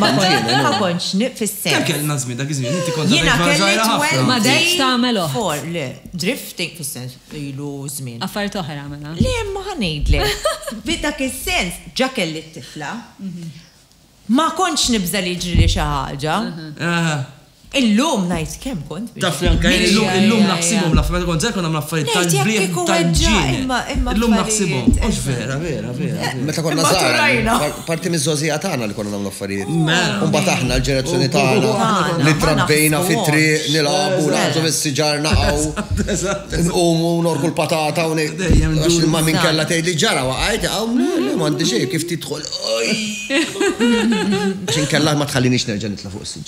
Ma kontx nif fis-sens. Kemm kellna żmien dak iż-żmien, inti kont għadek tmara żgħira ħafna. Ma dejtx tagħmel oħt. For, le, drifting fis-sens ilu żmien. Affarijiet oħra mela. Le, imma ħa ngħidlek. Fi dak is-sens, ġa kelli t-tifla, ma kontx nibża' li jiġrili xi ħaġa. Illum ngħid kemm kont biex. Tafni anke illum illum naħsibhom l-affarijiet meta kont żgħir konna nagħmlu affarijiet tal-brieħ tal-ġienel. Illum naħsibhom. Mhux vera, vera, vera. Meta konna żgħar. Parti miż-żgħożija tagħna li konna nagħmlu affarijiet. U mbagħad aħna l-ġenerazzjoni tagħna li trabbejna fit-triq nilagħbu nagħżu mis-siġar naqgħu. Nqumu norku l-patata u ngħid. Dejjem għax ma minn kellha tgħid li ġara waqgħet hawn le m'għandi xejn kif tidħol. Għax inkella ma tħallinix nerġa' nitla' fuq is-siġar.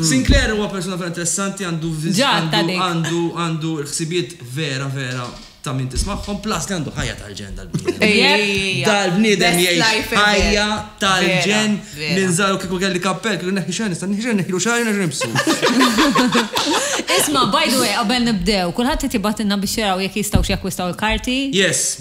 Sinclair huwa persuna vera interessanti, għandu viz- Ġa għandu- għatta dik. għandu għandu l-ħsibiet vera vera ta' min tismagħhom, plus li għandu ħajja tal-ġen dal-bniedem. Ejja. Dal-bniedem Best jgħix life ever. ħajja tal-ġen Vera, vera. minn żaru kieku kelli kappell, kieku neħi xejn, nista' neħi xejn, neħilu xejn, neħi nibsu. Isma, by the way, qabel nibdew, kulħadd qed jibgħatilna biex jaraw jekk jistgħux jakkwistaw il-karti. Yes,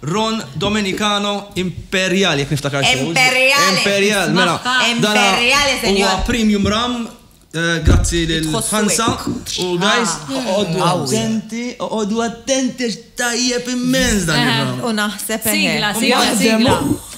Ron Domenicano Imperial, jekk niftakar sew. Imperial! Imperial, mela. Imperial, senjor. Huwa premium rum, grazzi lil Hansa. U guys, oqogħdu attenti, oqogħdu attenti għax tajjeb immens dan ir-rum. U naħseb, eħe. Sigla, sigla, sigla.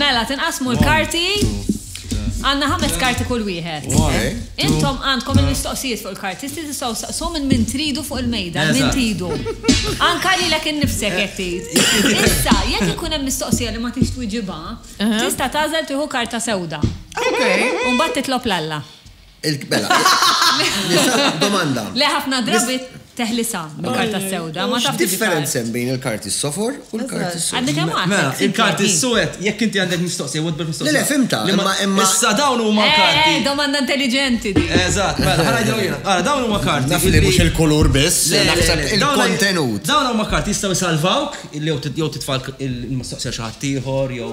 Mela, tinqasmu l-karti. Għanna ħames karti kull wieħed. Intom għandkom il-mistoqsijiet fuq il-karti, sti tistgħu saqsu minn min tridu fuq il-mejda, minn tridu. Anka li l innifsek qed tgħid. Issa, jekk ikun hemm mistoqsija li ma tix twiġibha, tista' tagħżel tieħu karta sewda. Imbagħad titlob l-Alla. Il-kbela. Domanda. Le ħafna drabi teħlisa bil-karta sewda, ma taf differenza bejn il-karti s-sofor u l-karti s-sofor. Għandek hemm mela, il-karti s-sowed, jekk inti għandek mistoqsija, wad bil mistoqsija. Le, fimta, imma imma. Issa dawn huma eh, karti. Eh, domanda intelligenti. Eżatt, mela, ħana ġew jiena. Ara, dawn huma karti. Naf li mhux il-kulur biss, naħseb il-kontenut. Dawn huma karti jistgħu jsalvawk, jew titfal il-mistoqsija xi ħadd ieħor, jew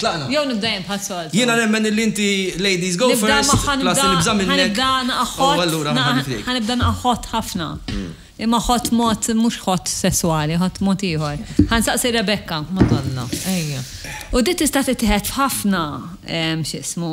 Tlaqna. Jew nibda jien bħas-soltu. Jiena nemmen illi inti ladies go first. Nibda magħha nibda. Plus nibża' minnek. Ħanibda naqgħa hot. Oh allura ma ħaddix ħliek. Ħanibda naqgħa hot ħafna. Imma hot mod mhux hot sesswali, hot mod ieħor. Ħansaqsi Rebecca. Madonna. Ejja. U di tista' tittieħed f'ħafna x'ismu.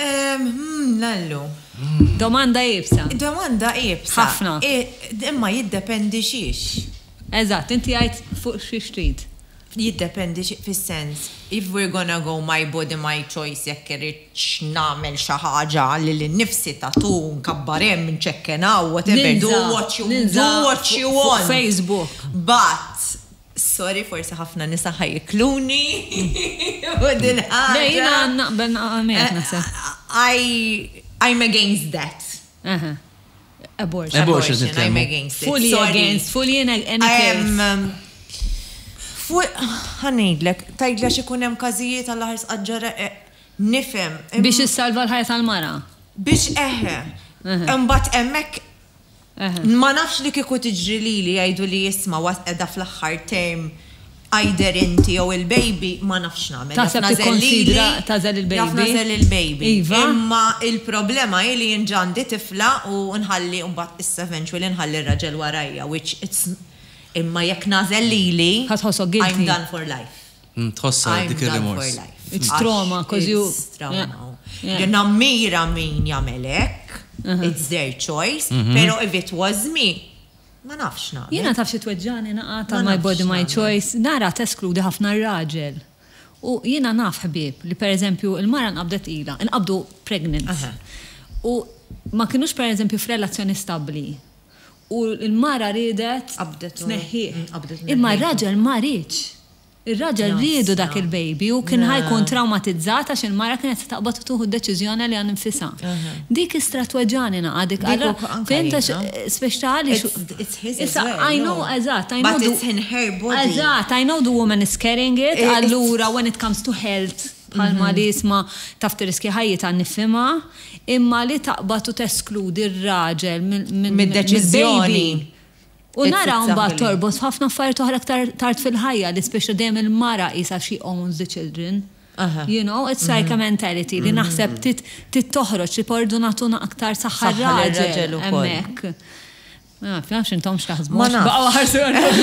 Ehm, lallu. Domanda iebsa. Domanda iebsa. Ħafna. Imma jiddependi xiex. Eżatt, inti għidt fuq xiex trid. Jiddependi xiex fis-sens, if we're gonna go my body my choice jekk irridx nagħmel xi ħaġa lili nnifsi, tattoo, nkabbar hemm, nċekken hawn, whatever, do what you want. Ninża' fuq Facebook. But, Sorry forsi ħafna nisa ħa jikluni fuq din il-ħaġa. Le jiena naqbel miegħek naħseb. I'm against that. Abortion. Abortion it I'm against it. Fully against, fully in any case. Fuq, ħanidlek, tajdla xikun hemm każijiet għal ħars qaġġara eh, nifhem. Biex issalva l-ħajja tal-mara. Biex eħe. Imbagħad hemmhekk Ma nafx li kieku tiġri lili jgħiduli isma' was qiegħda fl-aħħar term either inti jew il-baby ma nafx x'nagħmel. Taħseb tikkonsidra tagħżel il-baby? Jaf nagħżel il-baby. Iva. Imma il-problema hi li jien ġa għandi tifla u nħalli imbagħad issa eventually nħalli r-raġel warajja which it's imma jekk nagħżel lili. Ħa tħossok guilty? I'm done for life. Tħossha dik ir-rimors. It's trauma cause you. It's trauma. Jien nammira min jagħmel hekk. It's their choice. Però if it was me, ma nafx nagħmel. Jiena taf xi tweġġagħni naqgħa ta' my body my choice. Nara teskludi ħafna r-raġel. U jiena naf ħbieb li pereżempju l-mara nqabdet ilha, inqabdu pregnant. U ma kinux pereżempju f'relazzjoni stabbli. U l-mara riedet tneħħih. Imma r-raġel ma riedx. Ir-raġel riedu dak il-baby u kien ħa jkun trawmatizzat għax il-mara kienet se taqbad u tieħu d-deċiżjoni għaliha nfisha. Dik istra tweġġagħni ngħaqad dik allura fhimt għax spiċċ ta' għaliex issa I know eżatt I know the eżatt I know the woman is carrying it allura when it comes to health bħalma li jisma' taf tirriskja ħajjitha nifhimha imma li taqbad u teskludi r-raġel mill-baby mid-deċiżjoni U naraha mbagħad torbot f'ħafna affarijiet oħra iktar tard fil-ħajja li spiċċa dejjem il-mara qisha she owns the children. You know, it's like a mentality li naħseb trid toħroġ li pordu nagħtu aktar saħħa r-raġel hemmhekk. Ma nafx intom x'taħsbu. Ma nafx. Baqgħu ħarsu għandhom.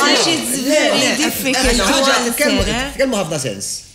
Għax it's very difficult. Kemm ħafna sens.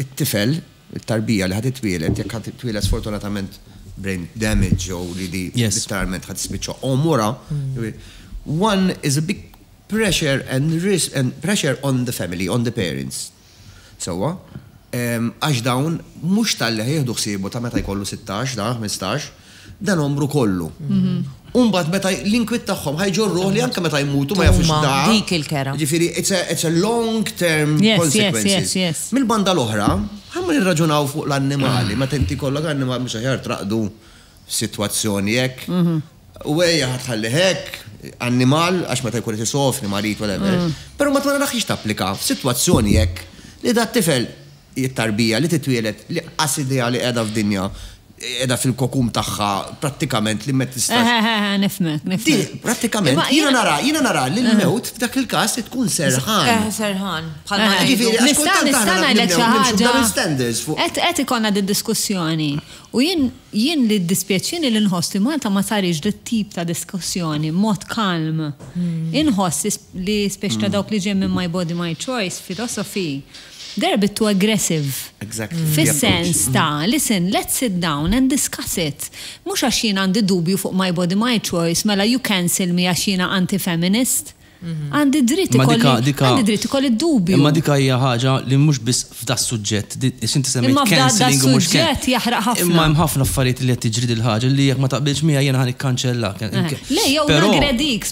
it-tifel, it-tarbija li ħa titwieled, jekk ħa titwieled sfortunatament brain damage jew li di literalment ħa tispiċċa omora, one is a big pressure and risk and pressure on the family, on the parents. Sewwa? Għax dawn mhux talli ħa jieħdu ħsiebu ta' meta jkollu sittax, dan ħmistax, Dan għomru kollu. Umbagħad meta l-inkwiet tagħhom ħajġorruh li anke meta jmutu ma jafux da. Dik il-kera. Ġifieri it's a long term consequences. Mill-banda l-oħra, ħamma nirraġunaw fuq l-annimali, meta inti jkollok annimali mhux aħjar traqdu f'sitwazzjoni hekk. U ejja ħa tħalli hekk, annimal għax meta jkun qed isofri, marid, whatever. Però mbagħad ma narax tapplika f'sitwazzjoni hekk li dat-tifel Hi t-tarbija li titwieled l-inqas idea li qiegħda f'dinja, qiegħda fil-cocoon tagħha prattikament li ma tistax. Eħ, eħ, eħ, nifhmek, nifhmek. Di, prattikament, jiena nara, jiena nara li l-mewt f'dak il-każ tkun serħan. Eħ, serħan, bħalma ngħidu. Jiġifieri, għax kultant aħna nibdew nimxu b'double standards fuq. Nista' nista' ngħidlek xi ħaġa? Qed ikollna did-diskussjoni u jien, jien li jiddispjaċini li nħoss li Malta ma sarix dit-tip ta' diskussjoni b'mod calm. Inħoss li specie ta' dawk li ġejjin minn My Body My Choice, philosophy, They're a bit too aggressive. Exactly. Fis-sens ta', listen, let's sit down and discuss it. Mhux għax jien għandi dubju fuq my body my choice mela you cancel me għax jiena anti-feminist. Għandi dritt Imma dika, ikolli, dika, għandi dritt ikolli d-dubju. imma dika hija ħaġa li mhux biss f'das-suġġett, di- għax inti semmejt Imma f'da- cancelling u mhux can- das-suġġett jaħraq ħafna. Imma hemm ħafna affarijiet li qed tiġri dil-ħaġa li jekk ma taqbilx miegħi jiena ħa nikkanċellak. Eh, Le, jew Però- naggredik,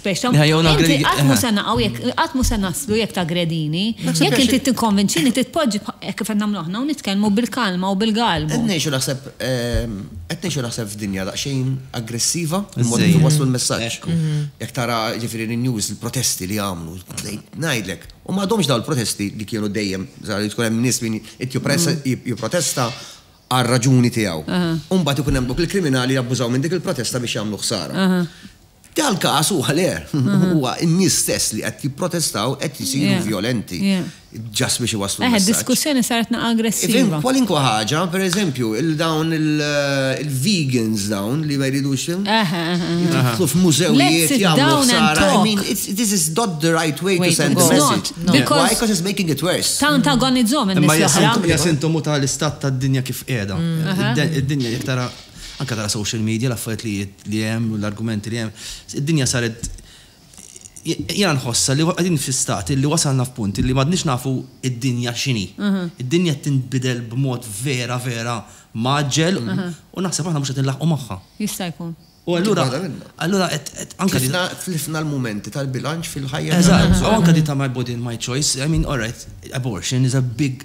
Inti qatt mhu se naqgħu jekk, qatt mhu se naslu jekk taggredini. Jekk inti tikkonvinċini trid tpoġġi hekk kif qed nagħmlu aħna u nitkellmu bil-kalma u bil-galbu. Qed ngħixu naħseb, qed ngħixu naħseb f'dinja daqsxejn aggressiva, il-mod kif iwasslu l-messaġġ. Jekk tara jiġifieri n-news, il-protesti li għamlu, ngħidlek, u m'għadhomx dawn il-protesti li kienu dejjem, li tkun hemm nies min jipprotesta għar-raġuni tiegħu. U mbagħad ikun hemm dawk il-kriminali jabbużaw minn dik il-protesta biex jagħmlu ħsara. Dal-każ huwa le, huwa n-nies stess li qed jipprotestaw qed isiru vjolenti just biex iwasslu l-messaġġ. Eħe, d-diskussjoni saret naqra aggressiva. Kwalunkwe ħaġa, per eżempju, dawn il-vegans dawn li ma jridux jidħlu f'mużewijiet jagħmlu ħsara. I mean, this is not the right way to send a message. Why? Because it's making it worse. Tant agonizzhom in-nies l-oħra. Imma hija sintomu tal-istat tad-dinja kif qiegħda. Id-dinja jekk tara. Anke tara social media l-affarijiet li li hemm u l-argumenti li hemm. Id-dinja saret jiena nħossha li qegħdin fi stat illi wasalna f'punt illi m'għadniex nafu d-dinja x'inhi. Id-dinja qed tinbidel b'mod vera vera mgħaġġel u naħseb aħna mhux qed inlaħħqu magħha. Jista' jkun. U allura allura qed qed anke Tlifna tlifna l-mumenti tal-bilanċ fil-ħajja tagħna. Eżatt. U anke di ta' my body and my choice, I mean, all right, abortion is a big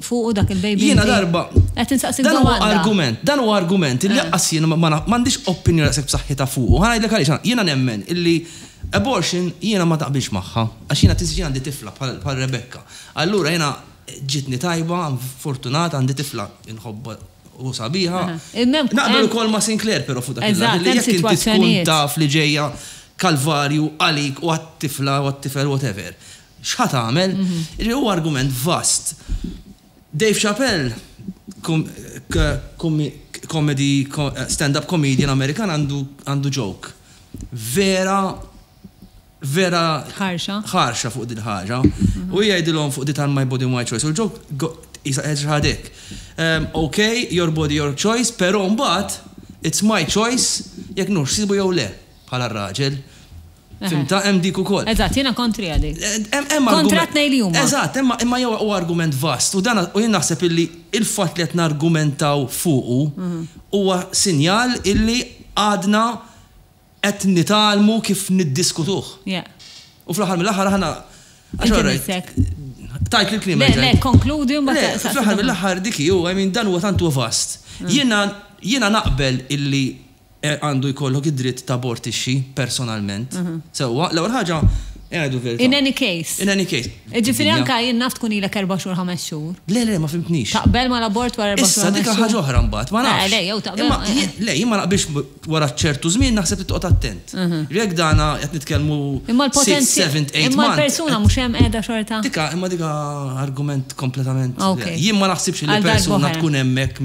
fuqu dak il-baby. Jiena darba. Qed insaqsik domanda. Dan huwa argument, dan huwa argument li lanqas jien ma m'għandix opinjoni daqshekk b'saħħitha fuqu. Ħa ngħidlek għaliex, jiena nemmen illi abortion jiena ma taqbilx magħha għax jiena tinsiex jien għandi tifla bħal Rebecca. Allura jiena ġietni tajba, fortunat, għandi tifla li nħobbha u sabiħa. Naqbel ukoll ma' Sinclair però fuq dak il-lat li jekk inti tkun taf li ġejja kalvarju għalik u għat-tifla u għat-tifel whatever. X'ħa tagħmel? Jiġifieri huwa argument vast. Dave Chappelle, comedy, stand-up comedian Amerikan għandu joke vera, vera. Ħarxa. Ħarxa fuq din ħaġa. U jgħidilhom fuq di ta' my body my choice. U l-joke qisha qed xi ħaġa hekk. Ok, your body your choice, però mbagħad it's my choice jekk nħoss ħsibu jew le bħala r-raġel. Fhimtha? Hemm dik ukoll. Eżatt, jiena kontri għal dik. Kontra t-tnejn li huma. Eżatt, imma huwa argument vast u dan jien naħseb illi l-fatt li qed nargumentaw fuqu huwa sinjal illi għadna qed nitgħallmu kif niddiskutuh. U fl-aħħar mill-aħħar aħna. Inti missek. Tajt li l-kliem. Le, le, konkludi u mbagħad. Le, fl-aħħar mill-aħħar dik hi, u I mean dan huwa tant huwa vast. Jiena naqbel illi Għandu jkollok id-dritt tabortixxi personalment. Sewwa, l-ewwel ħaġa, ngħidu l-verità. In any case. In any case. Jiġifieri anke jien naf tkun ilek erba' xhur, ħames xhur. Le, le, ma fhimtnix. Taqbel mal-abort wara erba' xhur, ħames xhur? Issa, dik hija ħaġa oħra mbagħad, ma nafx. Le, le, jew taqbel. Imma le, jien ma naqbilx wara ċertu żmien naħseb li toqgħod attent. Li jekk dana qed nitkellmu sitt, seventh, eight months. Imma l-persuna mhux hemm qiegħda xorta? Dik imma dik argument kompletament. Jien ma naħsibx li persuna tkun hemmhekk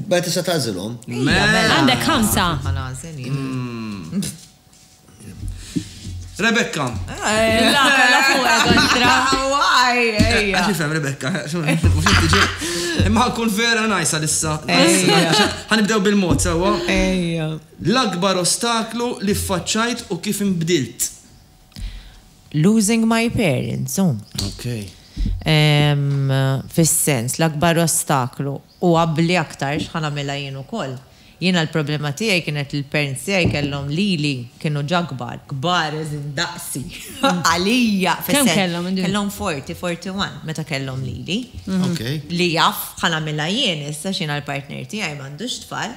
Imbagħad tista' tagħżilhom. Għandek ħamsa. Rebecca. La, la fuq kontra. Waj, ejja. Għax ifhem Rebecca, mhux tiġi. Imma ħankun vera najsa lissa. Ħanibdew bil-mod sewwa. Ejja. L-akbar ostaklu li ffaċċajt u kif inbdilt. Losing my parents, hu. Ok. Fis-sens, l-akbar ostaklu, u abbli aktarx, ħa nagħmilha jien ukoll. Jiena l-problema tiegħi kienet li l-parents tiegħi kellhom lili, kienu ġa kbar, kbar as in daqsi, għalija, fis-sens. Kemm kellhom inti? Kellhom 40, 41 meta kellhom lili. Ok. Li jaf, ħa nagħmilha jien issa x'jiena l-partner tiegħi m'għandux tfal.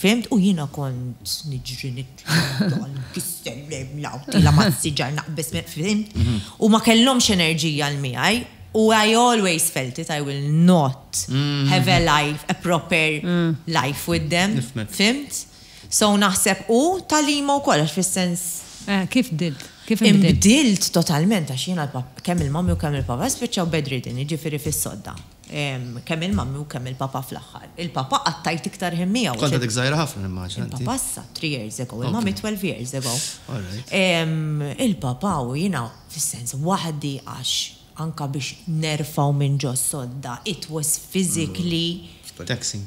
Fehmt u jiena kont niġri nitla' naqta' l-kissel lejn l-għawdila mas-siġar naqbeż minn fehmt? Huma kellhomx enerġija 'l miegħi u I always felt it I will not have a life a proper life with them. Nifhmek. Fhimt? So naħseb u tagħlima wkoll għax fis-sens. Eh kif bdilt? Kif inbdilt? Inbdilt totalment għax jiena kemm il-mommy u kemm il-papa spiċċaw bedridden jiġifieri fis-sodda. Kemm il-Mummy u kemm il-Papa fl-aħħar. Il-Papa qatt għidt iktar ħin miegħu għax. Kont għadek żgħira ħafna nimmaġina inti. Il-Papa issa three years ago, il-Mummy twelve years ago. Il-Papa u jiena fis-sens waħdi għax anke biex nerfgħu minn ġo s-sodda it was physically. Taxing.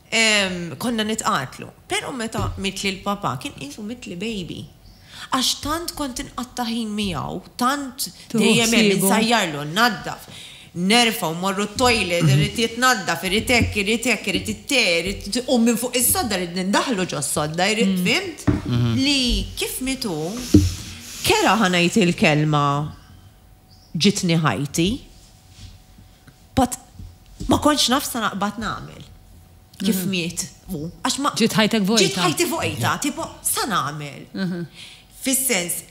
Konna nitqatlu. Pero' meta mitli l-papà kien qisu mitli baby. Għax tant kont inqatta' ħin miegħu, tant dejjem hemm, insajjarlu, nnaddaf, nerfgħu, mmorru t-toilet, irid jitnaddaf, irid hekk, irid hekk, irid it-te, irid u minn fuq is-sodda rrid nindaħlu ġos-sodda, irrid fhimt? Li kif miet hu, kera ħa ngħid il-kelma ġietni ħajti. But ma kontx naf sa naqbad nagħmel. Kif mhm. miet mu. Għax ma. Ġiet ħajtek vojta. Ġiet ħajti vojta, tipo sa nagħmel. Mhm. Fis-sens,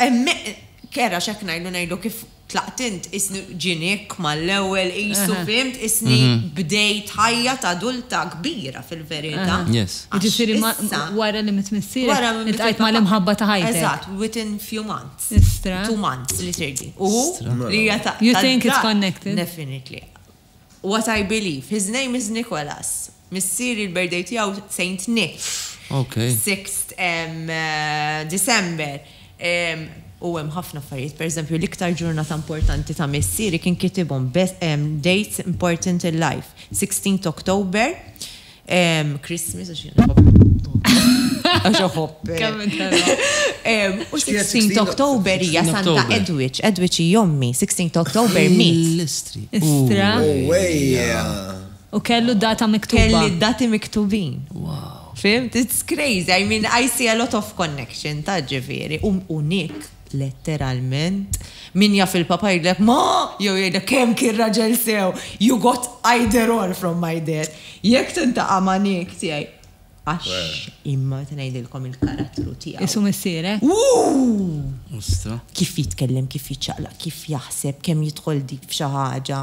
kera xek ngħidu ngħidu kif tlaqtint isni ġinik mal-ewwel isu mhm. fimt isni bdejt ħajja ta' adulta kbira fil-verità. Yes. Ġifieri wara li mitmissier. Wara li mitqajt mal-imħabba ta' ħajtek. Eżatt, within few months. Istra. Two months li sirli. U li hija ta' You think it's connected? Definitely. What I believe. His name is Nicholas. Missieri l-birthday tiegħu Saint Nick. Okay. Sixth December. U hemm ħafna affarijiet. Per eżempju, l-iktar ġurnata importanti ta' missieri kien kitibhom dates important in life. Sixteenth October, Christmas, għax jena Għax uħobbek. U 16 Oktober hija Santa Edwidge, Edwidge jommi, 16 Oktober mit. Istra. Oh, u kellu data miktuba. Kelli dati miktubin. Wow. Fimt, it's crazy. I mean, I see a lot of connection ta' ġiviri. U Nick, Letteralment, min jaf il-Papa jgħidlek ma! jew jgħidlek kemm kien raġel sew, you got either or from my dad. Jekk tintaqa' ma' Nick tiegħi, għax imma se ngħidilkom il-karattru tiegħu. Isu missierek? Wuu! Kif jitkellem, kif jiċċaqlaq, kif jaħseb, kemm jidħol deep f'xi ħaġa.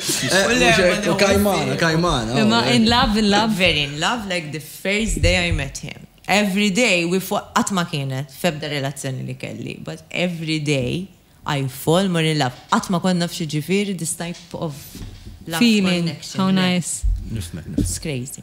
U kajmana, kajmana. Imma in love, in love. Very in love like the first day I met him. Every day we fall, qatt ma kienet f'ebda relazzjoni li kelli, but every day I fall more in love. Qatt ma kont naf x'jiġifieri this type of love connection. Feeling, how nice. Nifhmek, nifhmek. It's crazy.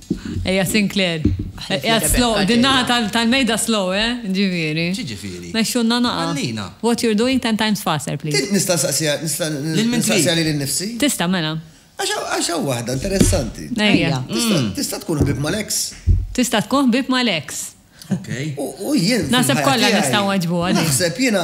Ejja Sinclair. Qiegħed slow, din naħa tal-mejda slow, eh? Ġifieri. X'jiġifieri? Mexxulna naqa'. Ħallina. What you're doing ten times faster, please. Nista' nsaqsiha, nista' nsaqsiha lili nnifsi? Tista' mela. Għax hawn waħda interessanti. Ejja. Tista' tkun ħbieb mal-eks. Tista' tkun ħbieb mal-eks. Okej. U jien. Naħseb kollha nistgħu nweġbuha din. Naħseb jiena.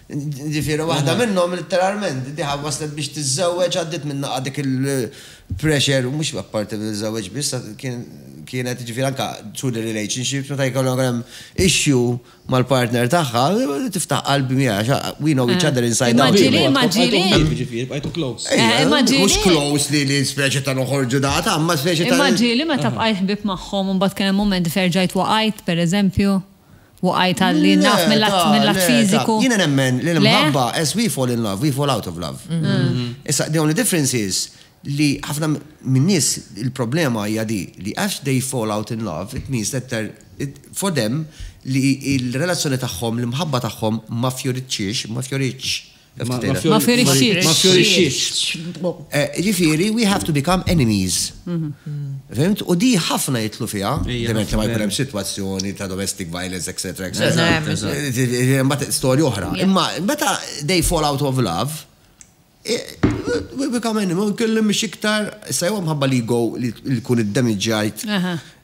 Jiġifieri waħda minnhom litteralment diha waslet biex tiżżewweġ għaddiet minn naqa' dik il-pressure u mhux apparti li żżewweġ biss kienet jiġifieri anke through the relationships meta jkollok hemm issue mal-partner tagħha tiftaħ qalb miegħha we know each other inside out. Imma ġieli, imma ġieli. Imma ġieli, jiġifieri bqajtu close. Imma ġieli. Mhux close li li speċi ta' noħorġu da' ta' imma speċi ta' Imma ġieli meta bqajt ħbieb magħhom u mbagħad kien hemm mument li ferġajt waqajt pereżempju. Waqajt għalli naf mill-att fiżiku. Jiena nemmen li l-imħabba, as we fall in love, we fall out of love. Issa, the only difference is li ħafna minn nies il-problema hija di li għax they fall out in love, it means that for them li l-relazzjoni tagħhom, l-imħabba tagħhom ma fjoritxiex, ma fjoritx. Ma fjorixxiex. Ma fjorixxiex. Eh, ġifieri, we have to become enemies. Mhm. Fimt? U di ħafna jitlu fiha, ovvjament li ma jkun hemm sitwazzjoni ta' domestic violence, etc. Mbagħad storja oħra. Imma meta they fall out of love, we become enemies, nkellem mhix iktar, sa jew mħabba li go li jkun id-demiġġajt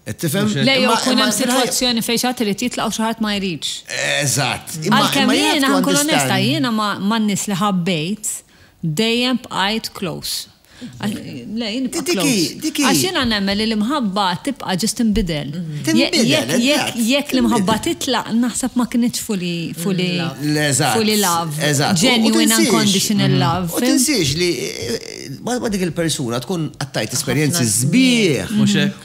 Qed tifhem? Le jew kun hemm sitwazzjoni fejn xi ħadd irid jitlaq u xi ħadd ma jridx. Eżatt. Għalkemm jiena ħankun onesta, jiena man-nies li ħabbejt dejjem bqajt close. Le, jien nibqa' close. Għax jiena nemmen li l-imħabba tibqa' ġust tinbidel. Jekk l-imħabba titlaq, naħseb ma kinitx fully fully fully love. Genuine unconditional love. U tinsiex li ma dik il-persuna tkun qattajt esperjenzi sbieħ. Mhux hekk?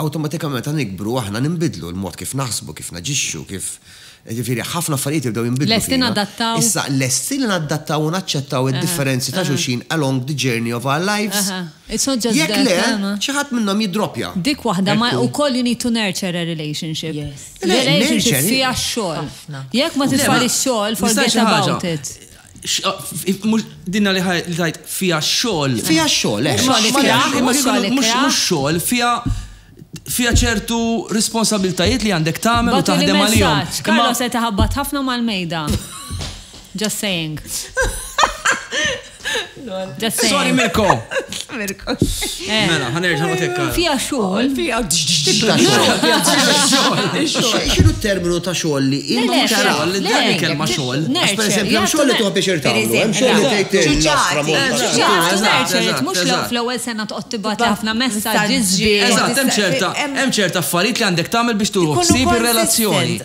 Awtomatikament meta nikbru aħna ninbidlu, il-mod kif naħsbu, kif naġixxu, kif, jiġifieri ħafna affarijiet jibdew jinbidlu fina. Lesti nadattaw. Issa, lesti li nadattaw u naċċettaw id-differenzi ta' xulxin along the journey of our lives? Jekk le, xi ħadd minnhom jiddroppja. Dik waħda, ma wkoll you need to nurture a relationship. Relationship fiha x-xogħol. Jekk ma titfalix xogħol, forget about it. Dinna li tajt fija xol. Fija xol, eh. Mux xol, fija fija ċertu responsabiltajiet li għandek tagħmel u taħdem għalihom. Karlo se taħabbat ħafna mal-mejda. Just saying. Sorry Mirko! Mirko. Eh. Mela, ħanerġa ma tekka. Fija xogħol. Fija xogħol. Xinu terminu ta' xogħol li imma xogħol li dan kelma xogħol. Per eżempju, hemm xogħol li tuħbi xirta. Hemm xogħol li tgħid Mhux fl-ewwel sena toqgħod tibgħat ħafna messaġġi Eżatt, hemm ċerta hemm ċerta affarijiet li għandek tagħmel biex tuħu ħsieb ir-relazzjoni.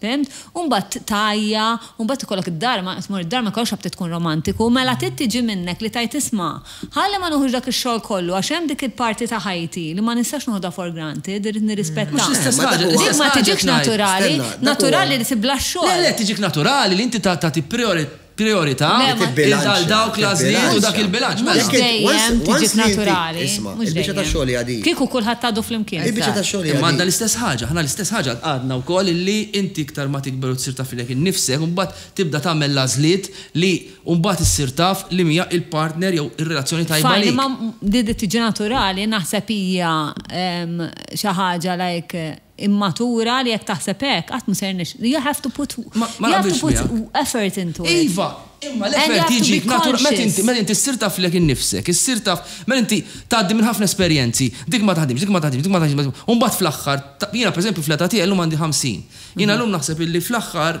Fhimt? U mbagħad tgħajja, u mbagħad ikollok id-dar, ma, tmur id-dar ma jkollokx għalfejn tkun romantiku, mela trid tiġi minnek li tgħid isma', ħalli ma nieħux dak ix-xogħol kollu għax hemm dik il-parti ta' ħajti li ma nistax noħodha for granted, irrid nirrispettha. Mhux l-istess ħaġa, l-istess ħaġa qed ngħid. Dik ma tiġikx naturali, naturali li tibla' x-xogħol. Le, le, tiġik naturali li inti tagħti prijorità. prijorità għal dawk l-għażliet u dak il-bilanċ. Mhux dejjem tiġi naturali. Isma', il-biċċa tax-xogħol hija din. Kieku kulħadd għadu flimkien. Il-biċċa tax-xogħol hija din. Imma għandna l-istess ħaġa, aħna l-istess ħaġa għadna wkoll illi inti iktar ma tikber u tsir taf lilek innifsek, imbagħad tibda tagħmel l-għażliet li mbagħad issir taf liema hija l-partner jew ir-relazzjoni tajba lejk. Fine, imma li tiġi naturali naħseb hija xi ħaġa like immatura li jekk taħseb hekk qatt mhu se jirnexx. You have to put you have to put effort into it. Iva, imma l-effort jiġi b'natura meta inti meta inti ssir taf lilek innifsek, issir taf meta inti tgħaddi minn ħafna esperjenzi, dik ma taħdimx, dik ma taħdimx, dik ma taħdimx, u mbagħad fl-aħħar, jiena pereżempju fl-età tiegħi llum għandi 50, jiena llum naħseb illi fl-aħħar,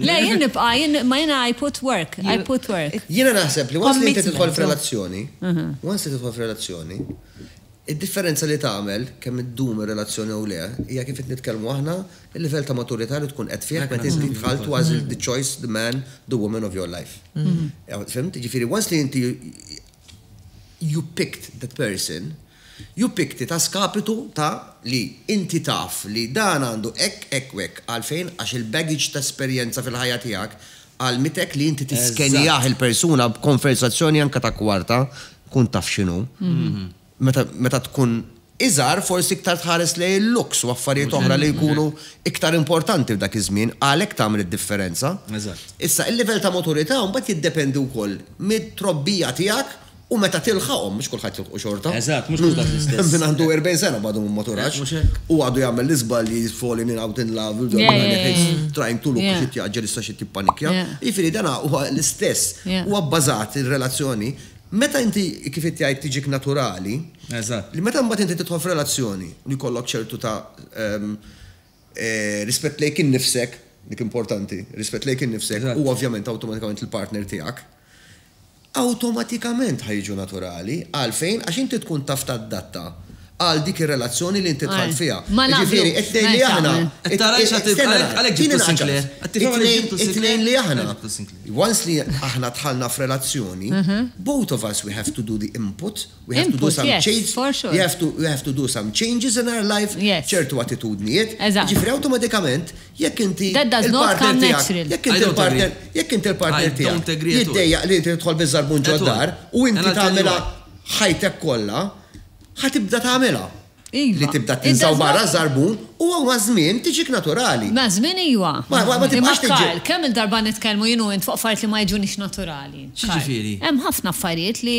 Le, jien nibqa', jien, ma jiena I put work, I put work. Jiena naħseb li once li inti tidħol f'relazzjoni, once li tidħol f'relazzjoni, id-differenza li tagħmel kemm iddum ir-relazzjoni jew le hija kif qed nitkellmu aħna, il-livell ta' maturità li tkun qed fih meta inti dħalt u għażilt the choice, the man, the woman of your life. Fhimt? Jiġifieri once li inti you picked that person, You picked it a skapitu ta' li inti taf li dan għandu hekk, hekk u hekk. Għalfejn? Għax il-baggage ta' esperjenza fil-ħajja tiegħek għallmitek li inti tiskenjah il-persuna b'konversazzjoni anke ta' kwarta, tkun taf x'inhu. Meta, meta tkun iżgħar forsi iktar tħares lejn il-looks u affarijiet oħra li jkunu iktar importanti f'dak iż-żmien, għalhekk tagħmel id-differenza. Issa, il-livell ta' maturità mbagħad jiddependi wkoll mit-trobbija tiegħek U meta tilħaqhom, mhux kulħadd jilħqu xorta. Eżatt, mhux kulħadd l-istess. Hemm min għandu 40 sena u għadu ma maturax. Mhux hekk. U għadu jagħmel l-iżbalji, falling in, out in love, trying to look, xi tjagħġġel issa xi tippanikkja. Jiġifieri dan huwa l-istess. Huwa bbażat ir-relazzjoni. Meta inti, kif inti għidt, tiġik naturali. Eżatt. Li meta mbagħad inti tidħol f'relazzjoni li jkollok ċertu ta' rispett lejk innifsek, dik importanti, rispett lejk innifsek u ovvjament awtomatikament il-partner tiegħek. awtomatikament ħa jiġu naturali. Għalfejn? Għax inti tkun taf tadatta għal dik ir-relazzjoni li inti dħalt fiha. Jiġifieri, qed tgħid li aħna, tieni ngħidlek, qed ngħid li aħna, once li aħna dħalna f'relazzjoni, both of us we have to do the input, we have to do some change, we have to do some changes in our life, ċertu attitudnijiet, jiġifieri awtomatikament Jekk inti l-partner tiegħek, jekk inti l-partner, jekk inti l-partner tiegħek jiddejjaq li inti tidħol biż-żarbun ġod-dar u inti tagħmilha ħajtek kollha, ħa tibda tagħmilha. Li tibda tinża' barra ż-żarbun huwa maż-żmien tiġik naturali. Maż-żmien iva. Ma tibqax tiġi. Imma Karl, kemm il-darba nitkellmu jien u int fuq affarijiet li ma jiġunix naturali. X'jiġifieri? Hemm ħafna affarijiet li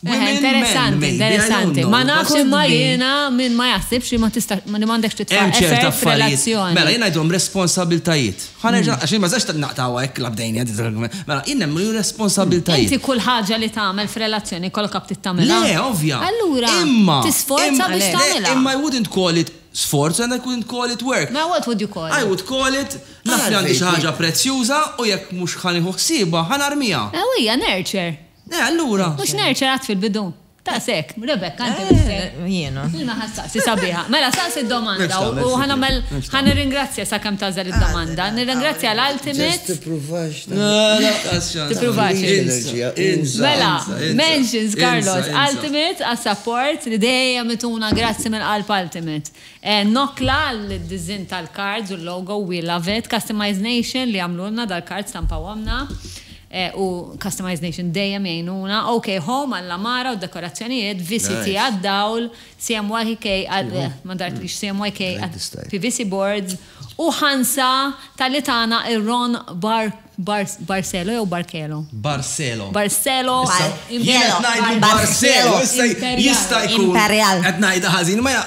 Women, interessanti, men, interessanti. Ma nafx imma jiena minn ma jaħsibx li ma tista' li m'għandekx titfa' effett f'relazzjoni. Mela jiena ngħidhom responsabiltajiet. Ħanerġa' għax ma sax naqtgħu hekk labdejni Mela jien hemm responsabiltajiet. Inti kull ħaġa li tagħmel f'relazzjoni kollok abtit tagħmilha. Le, ovvja. Allura. Imma. Tisforza biex tagħmilha. Imma I wouldn't call it sforza and I couldn't call it work. Ma what would you call it? I would call it naf li għandi xi ħaġa prezzjuża u jekk mhux ħanieħu ħsiebha ħanarmiha. Ewija, nurture. Eh, allura. Mhux Nurture għad fil-bidu? Taqs hekk, Rebecca inti mhux se. Eh, jiena. Ilma ħa staqsi sabiħa. Mela staqsi d-domanda u ħa nagħmel ħa nirringrazzja sakemm tagħżel id-domanda. Nirringrazzja l-Ultimate. Tippruvax. Tippruvax. Mela, mentions Carlos Ultimate għas-support li dejjem ituna grazzi minn qalb Ultimate. Eh, Nokla l-diżin tal-cards u l-logo we love it. Customized Nation li għamlulna dal-cards tampawhomna. u Customised Nation dejjem jgħinuna, OK Home għall-għamara u d-dekorazzjonijiet, VCT għad-dawl, CMYK għal, ma dartlix, CMYK għall-PVC boards, u ħansa talli tagħna ir-Ron Barcelo jew Barcelo? Barcelo. Barcelo. Jiena qed ngħidlu Barcelo. Jista' jkun. Imperjal. Qed ngħidha ħażin, imma hija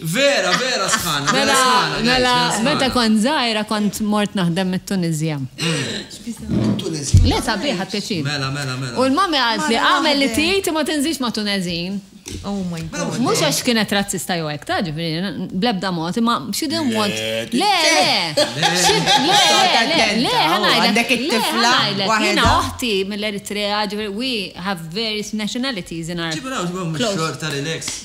Vera, vera sħana, vera sħana. Mela, meta kont żgħira kont mort naħdem mit-Tunisja. Le sabiħ ħadd pjaċir. Mela, mela, mela. U l-mami għalt li għamel li tgħid ma tinżix ma' Tunezin. Oh my mela, god. Mhux għax kienet razzista jew hekk, ta' ġifieri, blebda mod, imma she didn't want. Le, le. Le, le, le, ħanajdek. Le, ħanajdek. Jiena oħti mill-Eritrea, ġifieri, we have various nationalities in our. Ġibu naw, ġibu mhux xorta relax.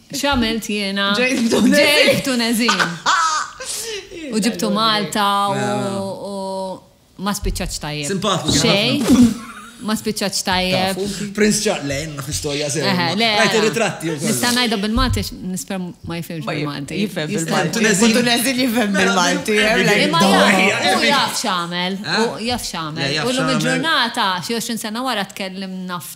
X'għamilt jiena? Ġejt f'Tunezin. Ġejt f'Tunezin. U ġibtu Malta u ma spiċċaċ tajjeb. Simpatiku. Xejn. Ma spiċċaċ tajjeb. Prince Charles, le, jenna f'istorja sew. Rajt il-ritratti. Nista' ngħidha bil-Malti, nisper ma jifhimx bil-Malti. Jifhem bil-Malti. Tunezin jifhem bil-Malti. Imma jaf, jaf x'għamel. Jaf x'għamel. U l-lum il-ġurnata, xi 20 sena wara tkellimna f'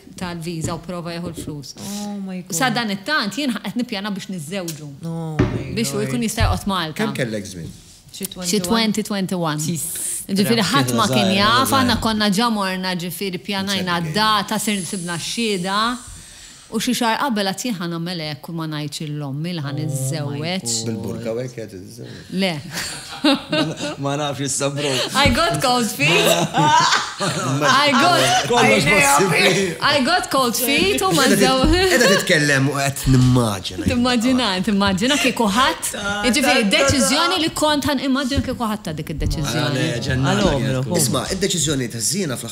tal-viża u prova jieħu l-flus. U sadanittant jien qed nippjana biex niżżewġu. Biex hu jkun jista' joqgħod Malta. Kemm kellek żmien? Xi 2021. Ġifieri ħadd ma kien jaf, aħna konna ġa morna ġifieri pjanajna d-data, sibna x-xhieda. U xi xahar qabel għad jien ħa nagħmel hekk u ma ngħidx lil ommi li ħa niżżewweġ. Bil-burka u hekk qed tiżżewweġ? Le. Ma nafx issa bro. I got cold feet. I got. Kollox possibbli. I got cold feet u ma żew. Edha titkellem u qed nimmaġina. Timmaġina, timmaġina kieku ħadd. Ġifieri deċiżjoni li kont ħan immaġina kieku ħadd ta' dik id-deċiżjoni. Isma', id-deċiżjoni ta' żiena fl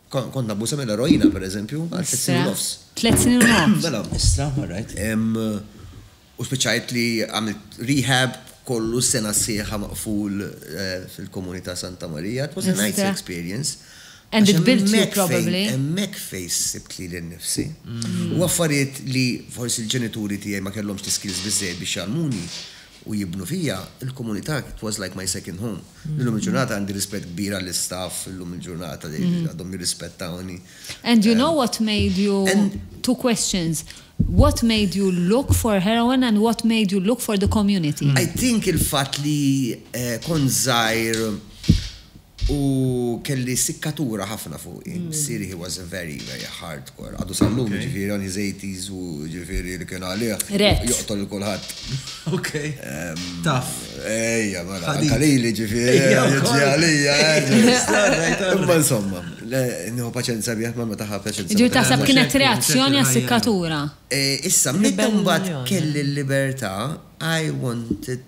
Kont nabbuża mill-eroina, per eżempju, għal tliet snin u nofs. Tliet snin u nofs? Mela. Istra, all right. U spiċċajt li għamilt rehab, kollu sena sħiħa maqful fil-Komuni ta' Santa Marija. It was a nice experience. Istra. And it built you probably. Hemmhekk fejn sibt lili nnifsi. U affarijiet li forsi l-ġenituri tiegħi ma kellhomx l-iskills biżżejjed biex jgħallmuni. u jibnu fija, il-komunità it was like my second home. Illum il-ġurnata għandi rispett kbir għall-istaff illum il-ġurnata li għadhom jirrispettawni. And you know what made you, two questions, what made you look for heroin and what made you look for the community? I think il-fatt li kont żgħir U kelli sikkatura ħafna fuqi. Missieri he was a very, very hardcore. Għadu sal-lum jiġifieri għandi żejtis u jiġifieri li kien għalih joqtol lil kulħadd. Ok. Tough. Ejja, mela. Anke lili jiġifieri jiġri għalija. Imma insomma, nieħu paċenza bih ma meta ħa paċenza. Jiġifieri taħseb kienet reazzjoni għas-sikkatura. Issa, meta mbagħad kelli l-libertà, I wanted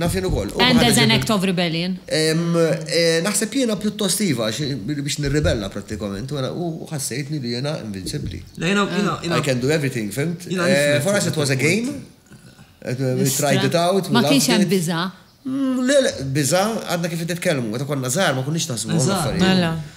Naf jien ukoll. And as an act of rebellion? Naħseb jiena pjuttost iva, biex nirribella prattikament, u ħassejtni li jiena invincibbli. I can do everything, fhimt? For us it was a game, we tried it out. Ma kienx hemm biża'? Le, le, biża', għadna kif qed nitkellmu, meta konna żgħar ma konniex naħsbu dawn l-affarijiet.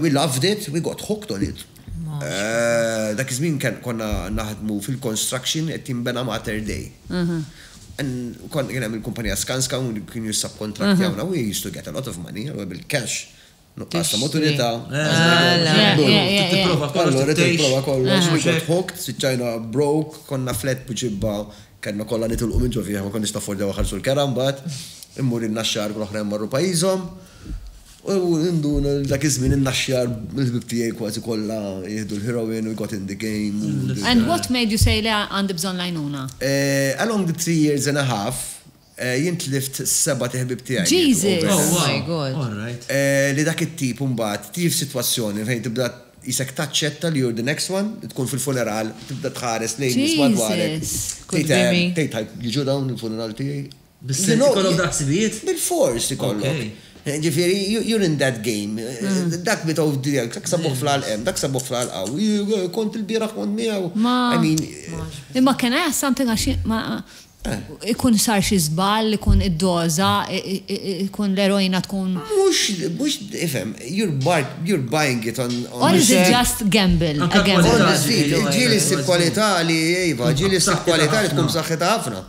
We loved it, we got hooked on it. Dak iż-żmien konna naħdmu fil-construction qed jinbena Mater Dei. Kien hemm il-kumpanija Skanska u kienu jissubkontrattjawna. We used to get a lot of money, allura bil-cash, nuqqas ta' maturità. Trid tipprova kollox. Trid tipprova kollox. We got hooked, spiċċajna broke, konna flat b'ġibba, kellna kollha nitilqu minn ġo fih, ma konniex naffordjaw inħallsu l-kera mbagħad. Immur in-Naxxar u l-oħrajn marru pajjiżhom. U ninduna li dak iż-żmien in-naxxjar mill-ħbieb tiegħi kważi kollha jieħdu l-heroin u Got in the Game u dik il-. And what made you say le għandi bżonn l-għajnuna? Along the three years and a half, jien tlift sebat iħbieb tiegħi li mietu overdose. Jesus! Oh my God! All right. Li dak it-tip imbagħad tiġi f'sitwazzjoni fejn tibda qisek taċċetta li you're the next one, li tkun fil-funeral tibda tħares lejn nies madwarek. Jesus! Could be me. Tgħid, jiġu dawn il-funeral tiegħi? Bis-sens ikollok daqs sibijiet? Bilfors ikollok. Ġifieri, you're in that game. Dak bi tgħodd tiegħek, dak sabuh fl-għalq hemm, dak sabuh fl-għalq hawn. Kont il-bieraħ kont miegħu. Ma, imma can I ask something għax jien ma, ikun sar xi żball, ikun id-doża, ikun l-eroina tkun. Mhux, mhux, ifhem, you're buying it on. Or is it just gamble? Anke kwalità. Il-ġieli ssib kwalità li, iva, ġieli ssib kwalità li tkun b'saħħitha ħafna.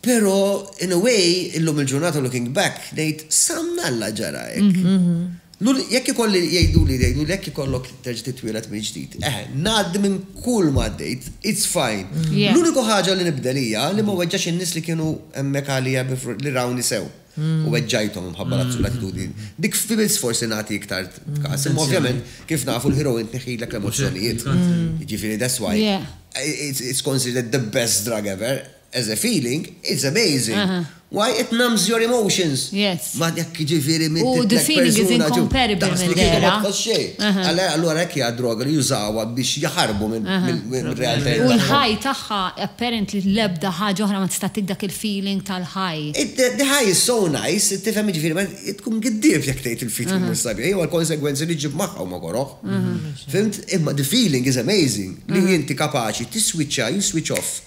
Pero in a way illum il-ġurnata looking back ngħid sa mnalla ġara hekk. Jekk ikolli jgħiduli jgħiduli jekk ikollok terġa' titwieled mill-ġdid. Eħe, ngħaddi minn kull ma għaddejt, it's fine. L-uniku ħaġa li nibdel hija li ma weġġax in-nies li kienu hemmhekk għalija li rawni sew u weġġajthom imħabba l-attitudni. Dik ftit forsi nagħti iktar kas. Imma ovvjament kif nafu l-heroin tneħħilek l-emozzjonijiet. Jiġifieri that's why it's considered the best drug ever. As a feeling, it's amazing. Why it numbs your emotions. Yes. Ma dak jiġifieri minn U the feeling is incomparable minn dera. Allura hekk hija droga li jużawha biex jaħarbu mill-realtà. U l-high tagħha apparently l-ebda ħaġa oħra ma tista' ttik dak il-feeling tal-high. The high is so nice, tifhem jiġifieri tkun giddief jekk tgħid il-feeling mhux sabiħ, jew għall-konsegwenzi li ġġib magħha huma koroh. Fhimt? Imma the feeling is amazing li inti kapaċi tiswiċċa, you switch off.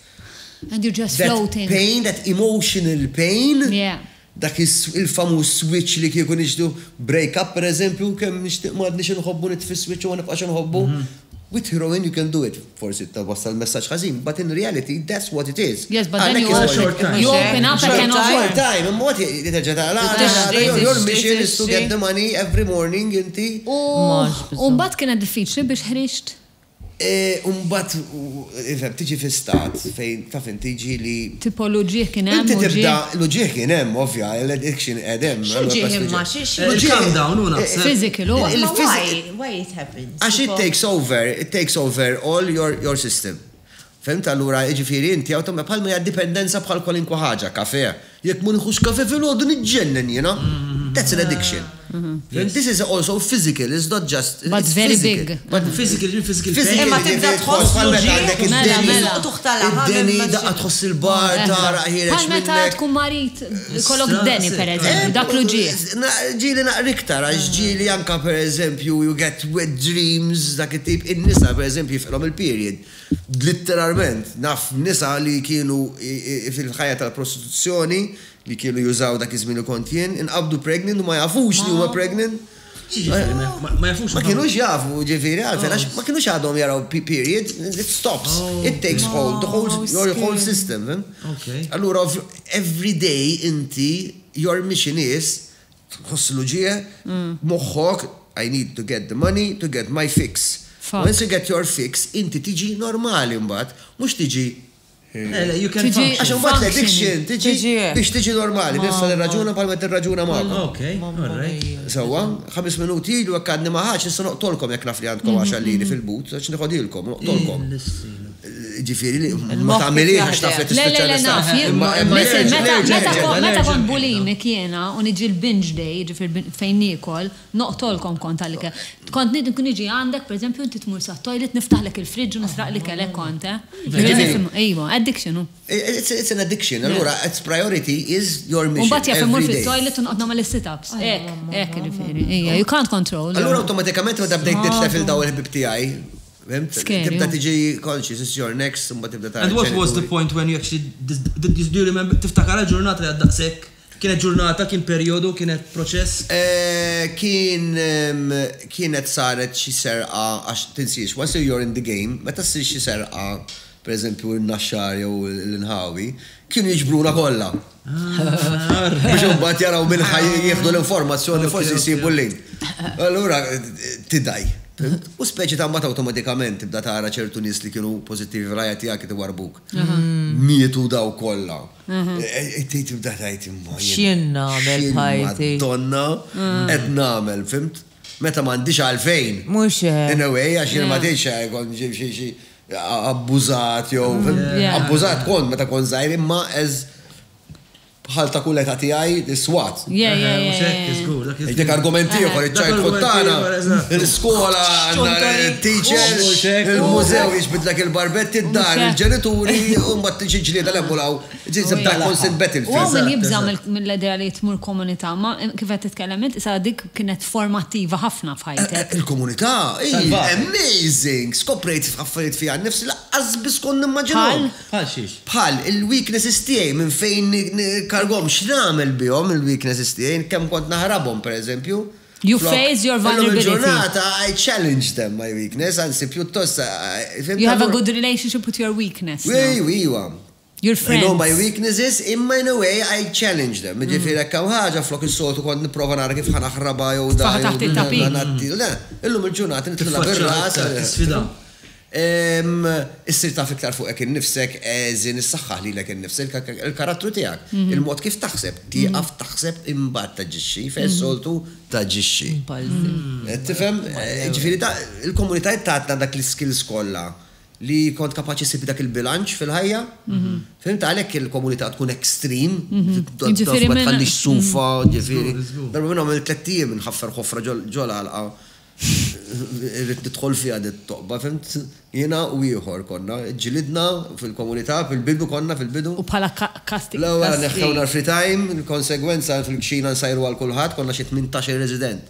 And you're just floating. That pain, that emotional pain. Yeah. Dak il-famuż switch li kieku nixdu break up per eżempju, kemm nixtieq ma għadniex inħobbu nitfi switch u ma nibqax inħobbu. Mhm. With heroin you can do it. Forsi ta' wassal messaġġ ħażin, but in reality that's what it is. Yes, but then you open, short time. you open up and can short time. Imma għati jiterġa ta' la, your mission is to get the money every morning inti. U mbagħad kienet diffiċli biex ħriġt. U mbagħad ifhem, tiġi fi stat fejn taf int jiġi li. Tipo l-uġigħ kien hemm, uġigħ. Inti tibda, l-uġigħ kien hemm ovvja, l-addiction qegħed hemm. X'uġigħ imma? Calm down, hu naħseb. Physical, hu. Imma why? Why it happens? Għax it takes over, it takes over all your system. Fhimt allura? Jiġifieri inti awtom bħal ma hija d-dipendenza bħal kwalinkwa ħaġa, kafè. Jekk ma nieħux kafè filgħodu niġġennen jiena. That's an addiction. Fhimt? This is also physical, it's not just, it's physical. But very big. Physical, jiġifieri physical pain. Imma tibda tħoss bħal meta għandek id-deni, id-deni daqqa tħoss il-bar, tagħraq ħiereġ minnek. Bħal meta tkun marid ikollok d-deni pereżempju, dak l-uġigħ. Ġieli naqra iktar għax ġieli anke pereżempju you get wet dreams, dak it-tip. In-nisa pereżempju jifqilhom il-period. Litteralment, naf nisa li kienu fil-ħajja tal-prostituzzjoni, li kienu jużaw dak iż-żmien li kont jien, inqabdu pregnant u ma jafux li huma pregnant. X'jiġifieri ma, ma jafux? Ma kinux jafu, jiġifieri għalfejn għax ma kinux għadhom jaraw period, it stops, it takes hold, the whole, your whole system, fhimt? Allura every day inti, you're mixi nies tħoss l-uġigħ, moħħok, I need to get the money to get my fix. Once you get your fix, inti tiġi normali mbagħad, mhux tiġi Għax imbagħad l-addiction tiġi biex tiġi normali, nista' nirraġuna bħalma tirraġuna magħkom. Okay, all right. Sewwa, ħames minuti ilu hekk għadni ma ħax, nista' noqtolkom jekk naf li għandkom 10 liri fil-but, għax niħodilkom, noqtolkom. Ġifiri li ma tagħmiliex għax taf li tispiċċa l-istaff. Meta kont bulimic jiena u niġi l-binge day, ġifieri fejn niekol, noqtolkom kont għall-ikel. Kont niġi għandek pereżempju inti tmur sat-toilet niftaħlek il-fridge u nisraq l-ikel hekk kont, eh. Iva, addiction hu. It's an addiction, allura it's priority is your mission. U mbagħad jaf immur fit-toilet u noqgħod nagħmel is-sit-ups. Hekk, hekk ġifieri. Ija, you can't control. Allura awtomatikament meta bdejt nitlef lil dawn il-ħbieb tiegħi, Fhimtni? Scary, oh. Tibda tiġi conscious, it's your next, imbagħad tibda tara And what was the l-ġenituri. point when you actually, this- this- this- do you remember, tiftakara l-ġurnata li għad daqshekk? Kienet ġurnata, kien perjodu, kienet proċess? Eh, Kien ehm, kienet saret xi serqa għax tinsiex, once you're in the game, meta ssir xi serqa, pereżempju n-Naxxar jew l-inħawi, kienu jiġbruna kollha. Biex imbagħad jaraw minn ħaj jieħdu l-informazzjoni forsi jsibu l-link. Allura tidaj. U speċi ta' mbagħad awtomatikament tibda tara ċertu nies li kienu pożittivi fil-ħajja tiegħek itwarbuk. Mietu daw kollha. Tibda tgħid imma. X'jien nagħmel ħajti. Donna qed nagħmel, fimt? Meta m'għandix għalfejn. Mhux. In a way għax jien ma tgħidx abbużat jew abbużat kont meta kont żgħir imma as bħal ta' kull età tiegħi is-swat. Yeah, yeah, Mhux hekk, yeah. żgur, dak iż-żmien. Dik argument ieħor iċ-childhood Dak tagħna, argument ieħor, eżatt. l-iskola għandna teacher, Mhux hekk. il-mużew jiġbidlek il-barbetti, d-dar, Mhux hekk. il-ġenituri, u mbagħad tiġi ġlieda l-hemm u l-hawn Ġiet żebda għal Council Betting Fee. U hawn min jibża' mill-idea li tmur komunità, imma kif qed titkellem int qisha dik kienet formattiva ħafna f'ħajtek. Il-komunità hi amazing! Skoprejt affarijiet fija nnifsi li laqqas biss kont nimmaġinhom. Bħal? Bħal xiex? Bħal il-weaknesses tiegħi, minn fejn nikkargom, x'nagħmel bihom il-weaknesses tiegħi, kemm kont naħrabhom pereżempju. You face your vulnerability. Illum il-ġurnata I challenge them my weakness, anzi pjuttost. You have a good relationship with your weakness now. Iwa, iwa. Your friends. I know my weaknesses imma in a way I challenge them. Jiġifieri jekk hawn ħaġa flok is-soltu kont nipprova nara kif ħa naħrabha jew dan. Tfaħħa taħt it-tapit. Le, illum il-ġurnata nidħilha bir-ras. Tisfida. Issir taf iktar fuqek innifsek, eżin, issaħħaħ lilek innifsek, il-karattru tiegħek, il-mod kif taħseb, tieqaf taħseb imbagħad taġixxi, fejn is-soltu taġixxi. Tifhem? Jiġifieri il-komunitajiet tagħna dak l-iskills kollha li kont kapaċi ssib dak il-bilanċ fil-ħajja. Fhimt għalhekk il-komunità tkun extreme, ġifieri ma tħallix sufa, ġifieri. Darba minnhom għamilt tliet ijiem inħaffer ħofra ġo l-għalqa. Irrid nidħol fiha din it-toqba, fhimt? Jiena u ieħor konna, ġġilidna fil-komunità, fil-bidu konna, fil-bidu. U bħala kastigu. L-ewwel neħħewna l-free time, il-konsegwenza fil-kxina nsajru għal kulħadd, konna xi tmintax-il resident.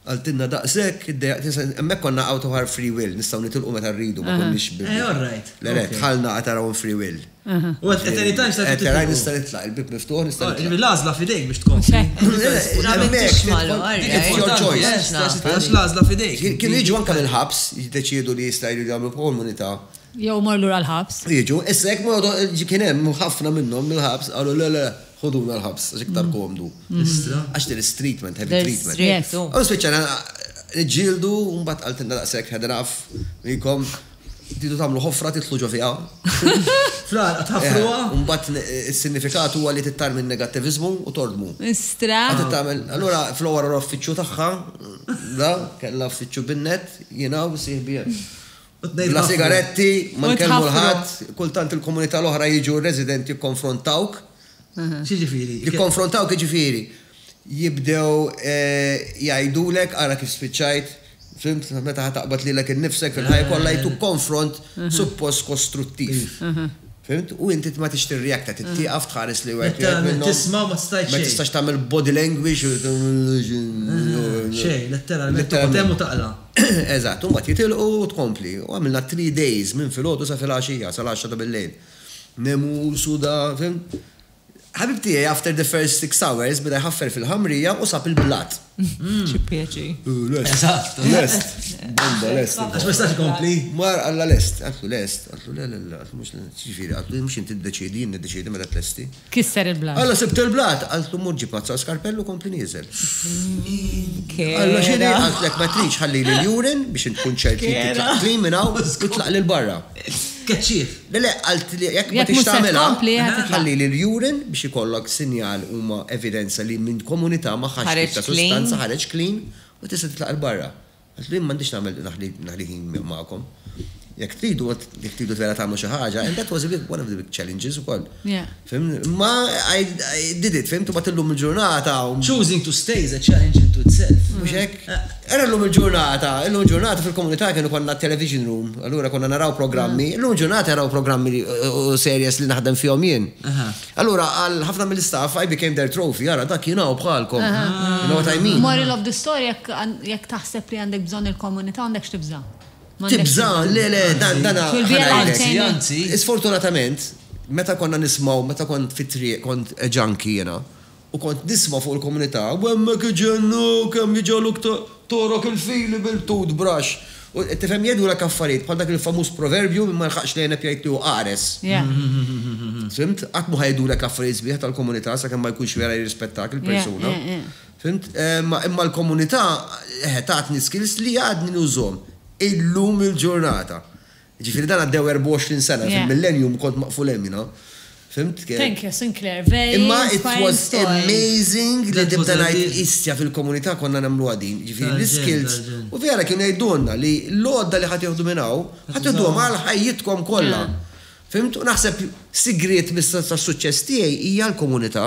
Qaltilna daqshekk, iddejjaqt nisa, hemmhekk konna out of our free will, nistgħu nitilqu meta rridu, ma konniex bi. Eh, all right. Le, le, dħalna at our own free will. U at any time stajt titlaq. At any time nista' nitlaq, il-bieb miftuħ nista' nitlaq. Ġifieri l-għażla f'idejk biex tkompli. Għax l-għażla f'idejk. Kienu jiġu anke mill-ħabs, jiddeċiedu li jista' jridu jagħmlu komunità. Jew imorru lura l-ħabs. Jiġu, issa jekk ma jgħodu, kien hemm ħafna minnhom mill-ħabs qalu le, le, Ħuduna l-ħabs għax iktar komdu. Istra. Għax din is treatment, heavy treatment. There's stress, oh. U spiċċajna niġġieldu u mbagħad qaltilna daqshekk had enough, mikom tridu tagħmlu ħofra titlu ġo fiha. Fl-għar qed ħafruha. U mbagħad is-sinifikat huwa li tittar minn negattiviżmu u tordmu. Istra. Qed tagħmel, allura fl-ewwel uffiċċju tagħha, da, kellha uffiċċju bin-net, jiena u sieħbi hemm. Bla sigaretti, ma nkellmu l-ħadd, kultant il-komunità l-oħra jiġu r-residenti jikkonfrontawk. X'jiġifieri? Jikkonfrontawk jiġifieri jibdew jgħidulek ara kif spiċċajt, fhimt, meta ħa taqbad lilek innifsek fil-ħajja kollha jagħtuk konfront suppost kostruttiv. Fhimt? U inti ma tridx tirreacta, trid tieqaf tħares lil wieħed wieħed minnhom. Tisma' u ma tistax xejn. Ma tistax tagħmel body language. Xejn, letteralment toqgħod hemm u taqla'. Eżatt, u mbagħad jitilqu u tkompli. U għamilna three days minn filgħodu sa filgħaxija, sal-għaxra ta' billejl. Nemus u da, fim. Ħabib tiegħi after the first six hours beda jħaffer fil-ħamrija u sab il-blat. Xi pjaċir. Eżatt. Lest. Bomba lest. Għax ma jistax ikompli. Mar għalla lest. Għaltlu lest. Għaltlu le le le, għaltlu mhux lest. X'jiġifieri? Għaltlu mhux inti ddeċiedi, jien niddeċiedi meta tlesti. Kisser il-blat. Alla sibt il-blat! Qalt l-omm ġib għazza u skarpell u kompli nieżel. Alla x'inhi? Qaltlek ma tridx ħallili l-urine biex int tkun ċert li titlaq clean minn hawn u tlaq lil barra. Tkeċċih. Le le, qalt li jekk ma tridx tagħmilha, ħallili l-urine biex ikollok sinjal huma evidenza li minn komunità ma ħadt tip ta' sustanza ħareġ clean u tista' titlaq 'il barra. Għax jien m'għandix nagħmel naħli ħin magħkom. Jekk tridu, jekk tridu vera tagħmlu xi ħaġa, and that was a big, one of the big challenges ukoll. Ma I did it, fim, tibgħat illum il-ġurnata. Choosing to stay is a challenge into itself. Mhux hekk? Era llum il-ġurnata, llum il-ġurnata fil-komunità kienu konna television room, allura konna naraw programmi, llum il-ġurnata naraw programmi u series li naħdem fihom jien. Allura għal ħafna mill-istaff I became their trophy, ara dak jiena u bħalkom. You know what I mean? Moral of the story jekk taħseb li għandek bżonn il-komunità m'għandek x'tibża'. Tibża', le le, dan dan ħa ngħidlek. Sfortunatament, meta konna nismgħu, meta kont fit-triq kont junkie jiena, U kont nisma' fuq il-komunità, U hemmhekk iġennu, kemm jiġgħaluk togħrok il-fili bil-tooth brush! U, tifhem, jgħidulek affarijiet bħal dak il-famuż proverbju, min ma jilħaqx l-għeneb jgħid li hu qares. Fhimt? Qatt mhu ħa jgħidulek affarijiet sbieħ tal-komunità sakemm ma jkunx vera jirrispettak il-persuna. Fhimt? Imma l-komunità, eħe, tatni skills li għadni nużhom illum il-ġurnata. Jiġifieri dan għaddew 24 sena, fil-millennium kont maqful hemm jiena. Fhimt kif? Thank you Sinclair, very inspiring story. Imma it was amazing li nibda ngħid histja fil-komunità konna nagħmluha din, jiġifieri l-iskills. U vera kienu jgħidulna li l-għodda li ħa tieħdu minn hawn, ħa tiħduhom għal ħajjitkom kollha. Fhimt? U naħseb sigriet tas-suċċess tiegħi hija l-komunità.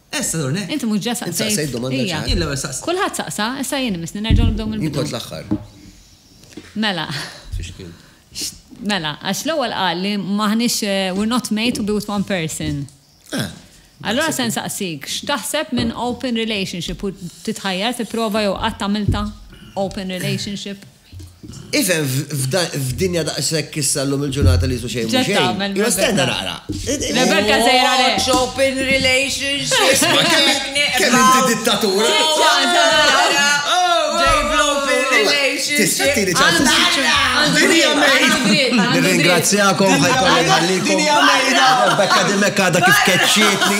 Essa dur hekk. Inti mhux ġa saqsejt. Int saqsejt domanda ċara. Ija. Jien l-ewwel saqsejt. Kulħadd saqsa, issa jien imissni nerġgħu nibdew mill-bidu. Jien kont l-aħħar. Mela. Fiex kien? Mela, għax l-ewwel qal li m'aħniex we're not made to be with one person. Ah. Allura se nsaqsik, x'taħseb minn open relationship u titħajjar tipprova jew qatt għamiltha open relationship? Ifhem, f'dinja daqshekk issa llum il-ġurnata li jisu xejn mhu xejn. Imma stenna naqra. Rebecca sejra lejk. Watch open relationships. Kemm inti dittatur. Nirringrazzjakom ħajkolli nħallikom. Rebecca dimekk għadha kif keċċietni.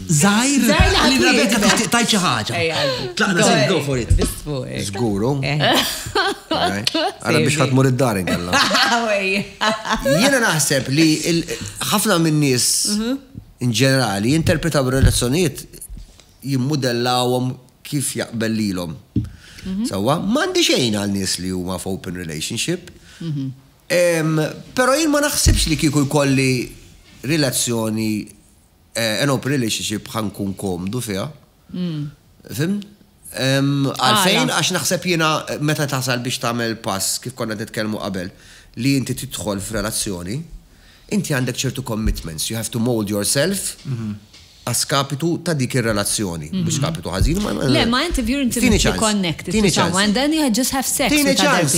Zaħir, li Rebecca tixtieq tajt xi ħaġa. Tlaqna se go for it. Żguru. Għara biex ħadd mur id-dar inkella. Jiena naħseb li ħafna min-nies mhm. in ġenerali jinterpretaw relazzjonijiet jimmudellawhom kif jaqbel lilhom. Mhm. Sawa, m'għandi xejn għal nies li huma f'open relationship. Mhm. Però jien ma naħsibx li kieku jkolli relazzjoni An open relationship ħa nkun komdu fiha. Fimt? Għalfejn għax naħseb jiena meta tasal biex tagħmel pass kif konna nitkellmu qabel li inti tidħol f'relazzjoni, inti għandek ċertu commitments, you have to mold yourself a skapitu ta' dik ir-relazzjoni. Mhux skapitu ħażin, ma Le, ma inti if you're intimately connected to someone, then you just have sex. Tini ċans.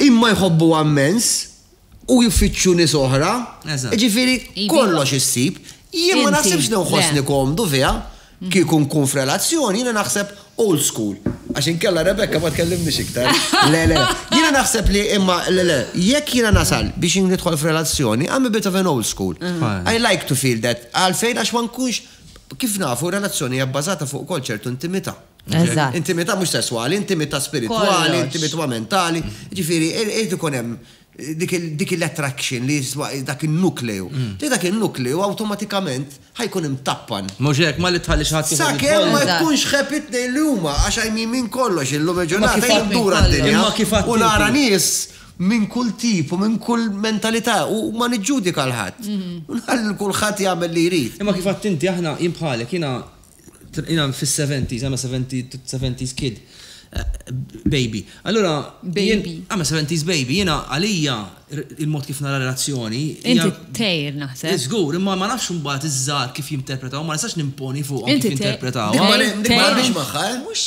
Imma jħobbuha mmens u jfittxu nies oħra. Jiġifieri kollox issib. Jien ma naħsibx li nħossni komdu fiha. Kieku nkun f'relazzjoni, jiena naħseb old school. Għax inkella Rebecca ma tkellimnix iktar. Le, le, jiena naħseb li imma le, le, jekk jiena nasal biex nidħol f'relazzjoni, I'm a bit of an old school. I like to feel that. Għalfejn għax ma nkunx, kif nafu relazzjoni hija bbażata fuq ukoll ċertu intimità. Eżatt. Intimità mhux sesswali, intimità spiritwali, Kollox. intimità mentali. Ġifieri, irid ikun hemm dik il- dik il-attraction li jiswa dak in-nukleju. Li dak in-nukleju awtomatikament ħajkun imtappan. Mhux hekk, ma li tħallix ħadd ieħor Sakemm ma jidħol. Eżatt. jkunx xeħeb it-tnejn li huma, għax għajmin minn kollox, illum Ma il-ġurnata kif jien għad minn ndur għad-dinja kollox. Imma kif għad u inti? nara nies minn kull tip u minn kull mentalità u ma niġġudika 'l ħadd. U nħalli 'l kulħadd jagħmel li jrid. Imma kif għadt inti aħna, jien bħalek, jiena Jiena fis-seventies, I'm a seventies kid, baby. Allura. Baby. I'm a seventies baby. Jiena għalija il-mod kif nara relazzjoni. Inti tgħir naħseb. Żgur, imma ma nafx imbagħad iż-żgħar kif jinterpretaw, ma nistax nimponi fuqhom kif jinterpretaw. Imma biex magħha, eh? Mhux.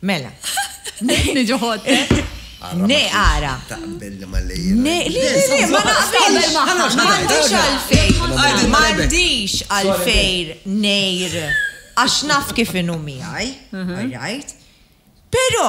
Mela. Niġu ħottek. Ne ara. Taqbel li ma lejjel. Ne, li li li, ma naqbel ma naqbilx għalfejn. Ma għandix għalfejn nejr. Għax naf kif inu miħaj. Alright. Pero,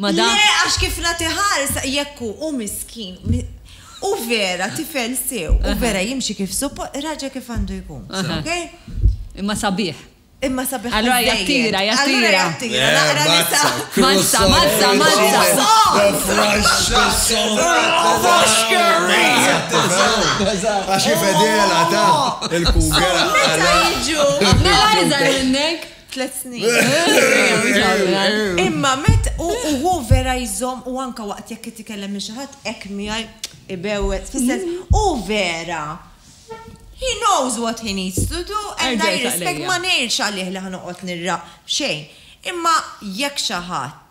ma da. Le, għax kif nagħti ħarsa jekk hu, hu miskin, hu vera tifel sew, hu vera jimxi kif suppo, raġel kif għandu jkun. Okay? Imma sabiħ. Imma sabiħ. Allura jattira, jattira. Jattira, naqra nisa. Mazza, mazza, mazza. Għaxi fedela ta' il-kugera. Mela jizar minnek. Tlet snin. Imma met u hu vera jżomm u anka waqt jekk qed ikellem minn xi ħadd hekk miegħi ibewwed fis-sens hu vera. He knows what he needs to do and I respect ma ngħidx għalih li ħa noqgħod nirraq xejn. Imma jekk xi ħadd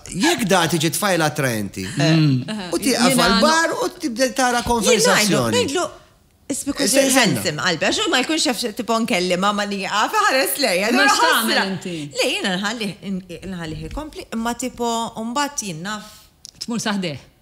Jekk da tiġi tfajla attraenti. U tieqaf għal-bar u tibda tara konversazzjoni. Ngħidlu, Isbiku ħensim qalbi, għax ma jkunx jaf tipo nkellima ma li għafa ħares lejja. Ma xtamel inti. Le, jina nħalliħi kompli, imma tipo umbat jinnaf. Tmur saħdeħ.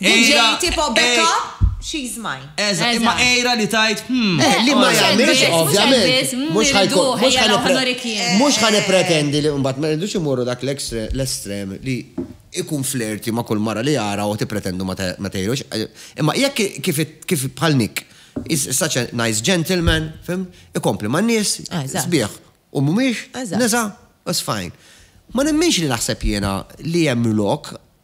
Ejra- DJ tipo ej- back up, she's mine. Eża, Eżatt. imma ejra li tajt, hmm. Eh, li ma Mhux jagħmilx, Elvis, mhux ovvjament. Elvis, mm, Mhux ħajkun- irriduh, mhux ejja, ħanipre- raw ħanurik jien. Mhux ħanipretendi li mbagħad ma rridux imorru dak l-ekstre- l-estrem li ikun flirti ma' kull mara li jara u tippretendu ma te- ma tgħidux. Imma jekk ki- kif it- kif bħal Nick is is such a nice gentleman, fim, ikompli ma' nies, Ah, eżatt. sbieħ u mhumiex, Eżatt. nisa, that's fine. Ma nemminx li naħseb jiena li hemm lok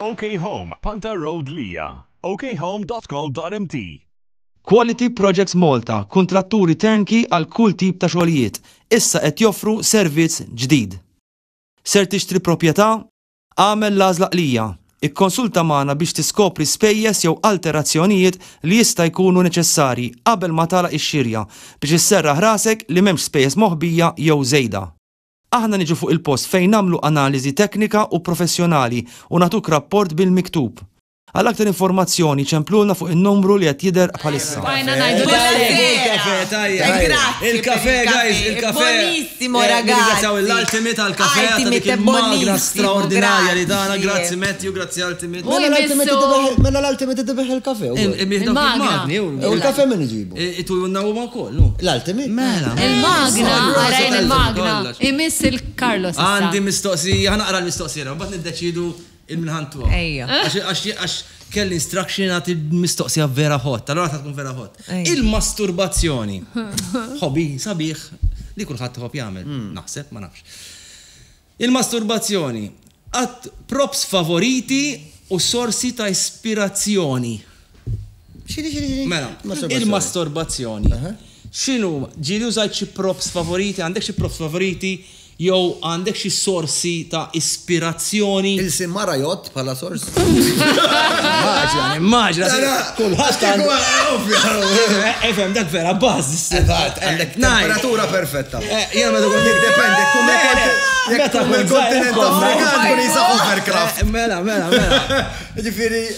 OK Home, Panther Road Lija, okhome.co.mt. Quality Projects Malta, kuntratturi turnkey għal kull tip ta' xogħlijiet, issa qed joffru servizz ġdid. Ser tixtri proprjetà? Agħmel l-għażla qlija. Ikkonsulta magħna biex tiskopri spejjeż jew alterazzjonijiet li jista' jkunu neċessarji qabel ma tagħlaq ix-xirja biex isserraħ rasek li m'hemmx spejjeż moħbija jew żejda. Aħna niġu fuq il-post fejn nagħmlu analiżi teknika u professjonali u nagħtuk rapport bil-miktub. Għal aktar informazzjoni ċemplulna fuq in-numru li qed jidher bħalissa. Bqajna ngħidu daqshekk. Il-kafè guys, il-kafè. Nirringrazzjaw lil Ultimate għall-kafè ta' dik il-magra straordinarja li tana. Grazzi Matthew, grazzi Ultimate. Mela l-Ultimate idibih il-kafè. Il-magni. U l-kafè min iġibu? Itu jonna huma wkoll. L-Ultimate. Mela. Il-magna, għarajn il-magna. Imiss il-Carlos. Għandi mistoqsija, ħa naqra l-mistoqsija, mbagħad niddeċiedu. Il-minħan tuha. Ejja. Għax kelli instruction nagħti mistoqsija vera hot, allura ta' tkun vera hot. Il-masturbazzjoni. Hobby sabiħ li kulħadd iħobb jagħmel, naħseb, ma nafx. Il-masturbazzjoni. Props favoriti u sorsi ta' ispirazzjoni. Xini, xini, xini? Mela, il-masturbazzjoni. Xinu, ġili użajt xi props favoriti, għandek xi props favoriti, jew għandek xi sorsi ta' ispirazzjoni? Il-sim mara jgħodd bħala sors? Immaġina, immaġina. Kulħadd għandu. Efhem, dak vera baż. Eżatt, għandek temperatura perfetta. Jena meta kont jek dependi, kum jek kum il-kontinent Afrikan kun jisa overcraft. Mela, mela, mela. Ġifieri,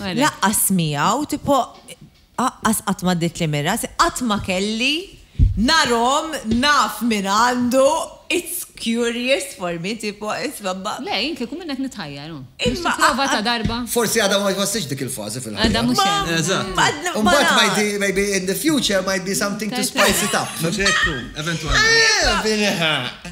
Laqqas miegħu, tipo, aqqas qatt ma ddietli minn rasi, qatt ma kelli narhom naf min għandu, it's curious for me, tipo, insomma. Le, jien kieku minnek nitħajjar, hu. Biex tipprova ta' darba. Forsi għadha ma jħossix dik il-fażi fil-ħajja. Għadha mhux hemm. Eżatt. U mbagħad might be, maybe in the future might be something to spice it up. Mhux hekk hu, eventwalment.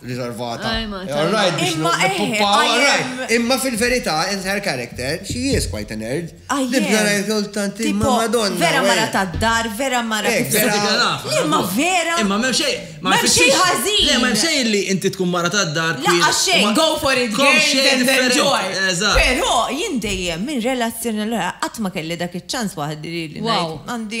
riservata. Imma eħe. Imma fil-verità, in her character, she is quite a nerd. Nibda ngħid kull tant imma Madonna. Vera mara tad-dar, vera mara. Imma vera. Imma m'hemm xejn. M'hemm xejn ħażin. Le m'hemm xejn li inti tkun mara tad-dar. Laqqa xejn, go for it, go and enjoy. Però jien dejjem minn relazzjoni l-oħra qatt ma kelli dak iċ-ċans waħdi li ngħid għandi.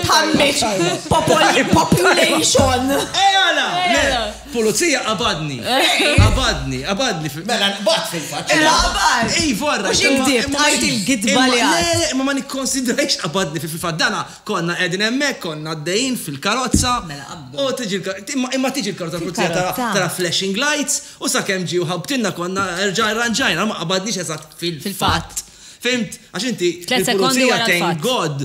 Tħammiġ population. Ejala! Pulizija qabadni. Qabadni, qabadni. Mela nqbad fil-fatt. Qabad. Ej, vorra. Mhux inkdib, tqajt il-gidba li għad. Le, le, ma ma nikkonsidrajx qabadni fil-fatt. Dana konna qegħdin hemmhekk, konna għaddejjin fil-karozza. Mela qabdu. U tiġi imma tiġi l-karozza pulizija tara flashing lights u sakemm ġi u ħabtinna konna erġa' rranġajna ma qabadniex eżatt fil-fatt. Fimt? Għax inti. Tliet sekondi wara. Thank God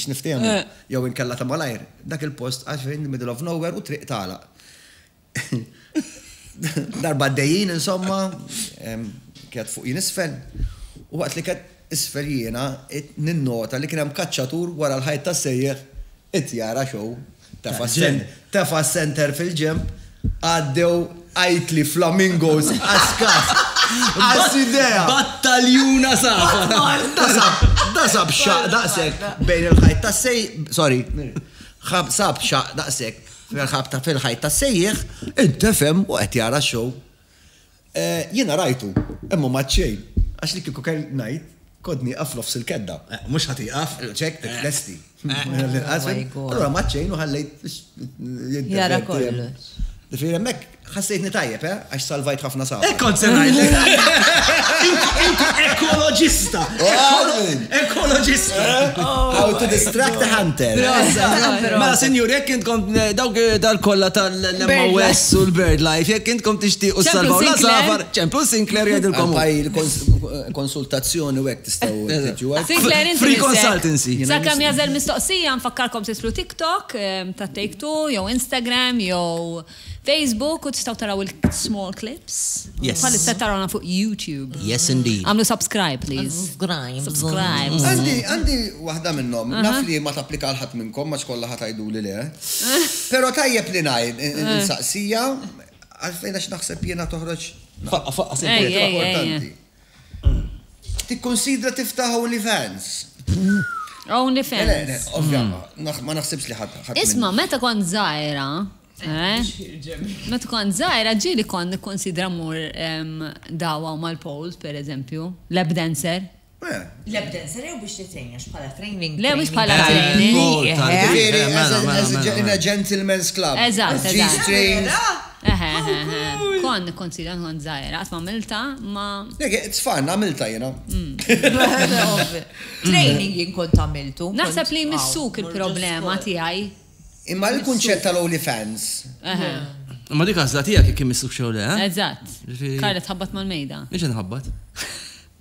x'niftehmu, jew inkella ta' malajr, dak il-post għax in the middle of nowhere u t-triq tagħlaq. Darba għaddejjin, insomma, qiegħed fuq jien isfel, u waqt li qiegħed isfel jiena ninnota li kien hemm kaċċatur wara l-ħajt tas-sejjeħ qed jara show. Tefa' s-center fil-ġenb, għaddew għajtli flamingos għas-skaff. Għas idea! Battaljuna safar! Da sab xaq daqsek bejn il-ħajt ta' sej, sorry, xab sab xaq daqsek fil-ħab ta' fil-ħajt ta' sejjeħ, intefem u qed jara xow. Jiena rajtu, imma m'għadt xejn, għax li kieku kelli ngħid, kont nieqaf f'nofs il-kedda. Mhux ħa tieqaf, ċekk, tlesti. Allura m'għadt xejn u ħallejt biex jidher. Jara kollox. Ġifieri hemmhekk ħassejtni tajjeb, eh, għax salvajt ħafna saħħa. Hekk kont se ngħidlek. Ekoloġista! Ekoloġista! How to distract a hunter. Mela, sinjuri, hekk int kont dawk tal-kollha tal. l-MOS u l-Bird Life, jekk intkom tixtiequ s-salvaw la safar, ċemplu Sinclair jgħidilkom. Konsultazzjoni u hekk tistgħu tiġu għal. Free consultancy. Sakemm jażel mistoqsija nfakkarkom titlu TikTok ta' Take Two jew Instagram jew Facebook u tistgħu taraw il-small clips. Bħalissa tarawna fuq YouTube. Yes indeed. Għamlu subscribe please. Subscribe. Għandi waħda minnhom. Naf li ma tapplika għal ħadd minnkom ma xkollha ħadd għiduli le. Pero tajjeb li ngħid, insaqsija, għalfejn għax naħseb jiena toħroġ. Faqqa, faqqa, sejja, importanti. Tikkonsidra tiftaħ OnlyFans. OnlyFans. Ovvja, ma naħsibx li ħadd. Isma, meta kont zaħira, eh? Meta kont zaħira, ġili kont nikkonsidra mur dawa mal-poles, per eżempju, lab dancer. L-evidence rew biex titgħin għax bħala training training. Le mhux bħala training. Jiġifieri as a in a gentleman's club. Eżatt eżatt. Vera? Eħe eħe eħe. Kont nikkonsidra kont żgħira qatt m'għamiltha ma. Le it's fun għamiltha jiena. Training jien kont għamiltu. Naħseb li jmissuk il-problema tiegħi. Imma l-kunċett tal-only fans. Eħe. Imma dik għażla tiegħek jekk imissukx jew le. Eżatt. Karla tħabbat mal-mejda. Mhix inħabbat.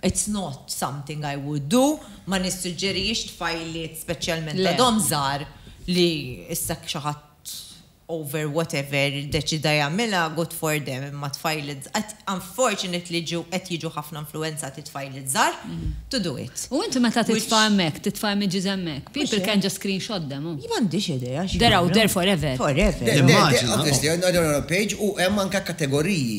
It's not something I would do, ma nissuġġerijiex tfajliet speċjalment għadhom żgħar li issa jekk xi ħadd over whatever iddeċida jagħmilha good for them imma tfajliet żgħar, unfortunately qed jiġu ħafna influwenzati tfajliet żgħar to do it. U inti meta titfa' hemmhekk, titfa' images hemmhekk, people can just screenshot them u. Jien m'għandix idea x'jagħmlu. They're out there forever. Forever. Immaġina. Obviously, hemm page u hemm anke kategoriji.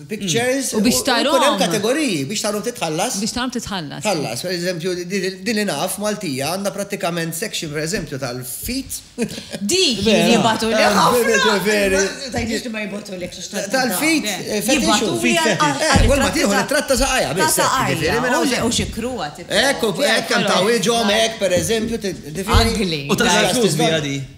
pictures. U biex tarom. Kunem kategoriji, biex tarom titħallas. Biex tarom titħallas. Tħallas, per eżempju, din li naf Maltija għandha pratikament section, per eżempju, tal-fit. Di, jibatu li Tal-fit, fetixu. Kull ma tiħu tratta saqajja. Ta' saqajja. U xikru għat. Ekku, ekk, kam ta' wieġom, ekk, per eżempju. U ta'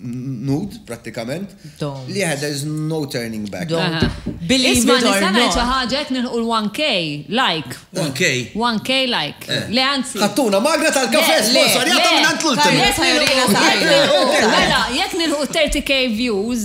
nude prattikament li had there's no turning back. Isma nista' ngħid xi ħaġa qed nilħqu l-1K like. 1K? 1K like. Le anzi. Ħattuna magra tal-kafè sponsorjata mingħand l-ultima. Mela jekk nilħqu 30K views.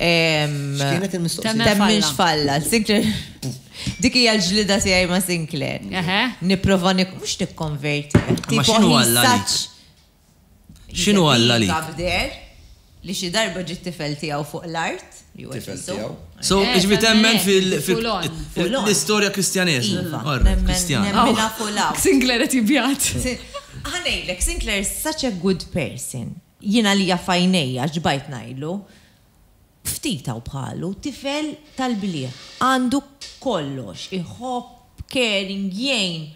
X'kienet il-mistoqsija? Temminx falla. Sinclair. Dik hija l-ġlida tiegħi ma' Sinclair. Nipprova mhux nikkonverti. Ma x'inhu Alla għalik? X'inhu Alla għalik? Għabder li xi darba ġiet tifel tiegħu fuq l-art. Tifel tiegħu. So, iġbi temmen fil-istorja kristjaneżma. Kristjan. Sinclair qed jibjat. Ħanejlek, Sinclair is such a good person. Jien għalija f'għajnejja xbajt ngħidlu, ftit hawn bħalu, tifel tal-bliegħ, għandu kollox, iħobb, caring, jgħin.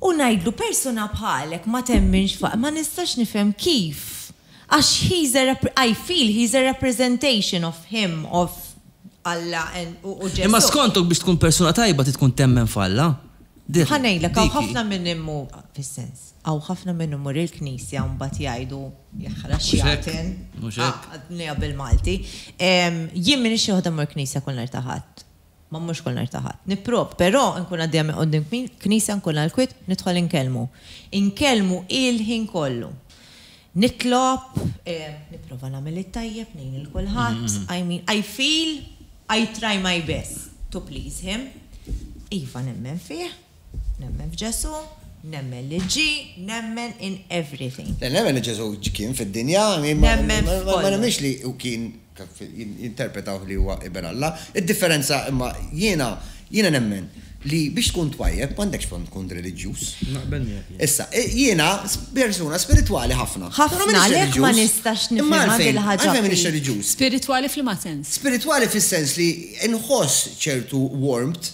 U ngħidlu persuna bħalek ma temminx f'Alla, ma nistax nifhem kif, għax he's a I feel he's a representation of him, of Alla and u Ġesù. Imma skontok biex tkun persuna tajba trid tkun temmen f'Alla? Ħa ngħidlek hawn ħafna min imur fis-sens. Hawn ħafna minn imur il-knisja u mbagħad jgħidu, jaħraq x'jagħten. Mhux hekk? Ah, għadniha bil-Malti. Jien m'iniex xi waħda mmur knisja kull nhar ta' Ħadd. Ma mmurx kull nhar ta' Ħadd. Nipprov, però nkun għaddejja minn quddiem knisja nkun għal kwiet nidħol inkellmu. Inkellmu il-ħin kollu. Nitlob, nipprova nagħmel it-tajjeb, ngħin lil kulħadd, I mean, I feel I try my best to please him. Iva nemmen fih. Nemmen f'Ġesù, nemmen li ġie, nemmen in everything. Le, nemmen li Ġesù kien fid-dinja, imma ma nemminx li hu kien, jinterpretawh li huwa Iben Alla. Id-differenza imma jiena, jiena nemmen li biex tkun twajjeb m'għandekx bżonn tkun reliġjuż. Naqbel miegħek. Issa, jiena persuna spiritwali ħafna. Ħafna, għalhekk ma nistax nifhimha dil-ħaġa. Għalfejn m'iniex reliġjuż? Spiritwali f'liema sens? Spiritwali fis-sens li nħoss ċertu warmth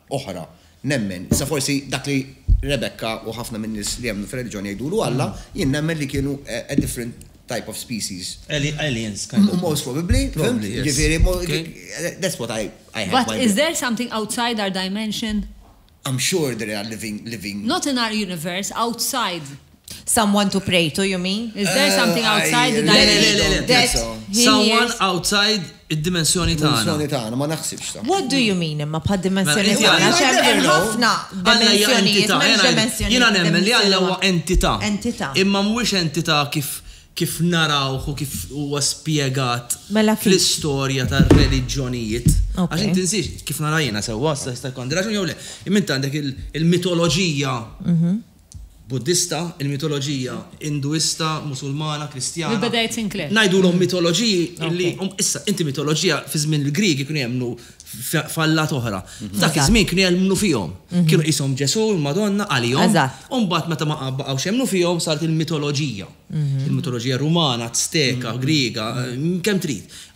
oħra, nemmen, issa forsi dak li Rebecca u ħafna min-nies li jemmnu fir-reliġjon jgħidulu Alla, jien nemmen li kienu a different type of species. Aliens kind of. Most probably, fimt? Jiġifieri that's what I I have my But is there something outside our dimension? I'm sure there are living living. Not in our universe, outside. Someone to pray to, you mean? Is there something eh, outside the dimension? that he Someone hears? outside id-dimensjoni tagħna. Dimensjoni tagħna, ma naħsibx ta'. What do you mean imma bħad dimensjoni Mela, tagħna? inti għandek- Xem ħafna Alla hija dimensjonijiet, entità, m'hemmx jena- dimensjoni. Jena nemmen li Alla huwa entità. Entità. Imma mhuwiex entità kif kif narawh u kif huwa spjegat Mela kif? fl-istorja tar-reliġjonijiet. Ok. Għax inti nsiex kif narajna sewwa sa jista' jkun raġun jew le. Imma inti għandek il- il-mitoloġija mhm. Buddista, il-mitoloġija Induista, Musulmana, Kristjana. Li beda jitnkleb. Ngħidulhom mitoloġiji li issa inti mitoloġija fi żmien il-Griegi kienu jemmnu f'allat oħra. Dak iż-żmien kienu jemmnu fihom. Kienu qishom Ġesù, il-Madonna, għalihom. U mbagħad meta ma baqgħux jemmnu fihom saret il-mitoloġija. Il-mitoloġija Rumana, Azteka, Griega, kemm trid.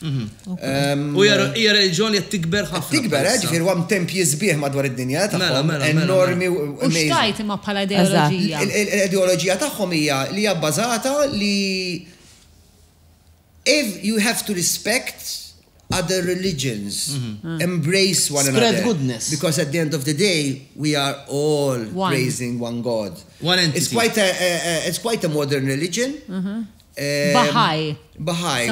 Mhm. U hija reġjoni qed tikber ħafna. Tikber, eh, ġifier huwa temp jisbieħ madwar id-dinja mela, tagħhom mela, mela, enormi u xtajt imma bħala ideoloġija. L-ideoloġija tagħhom hija li hija bbażata li if you have to respect other religions, mhm. embrace one another. Spread goodness. Because at the end of the day, we are all praising one God. One entity. It's quite a, it's quite a modern religion. Mhm. Bahá'í. Bahá'í.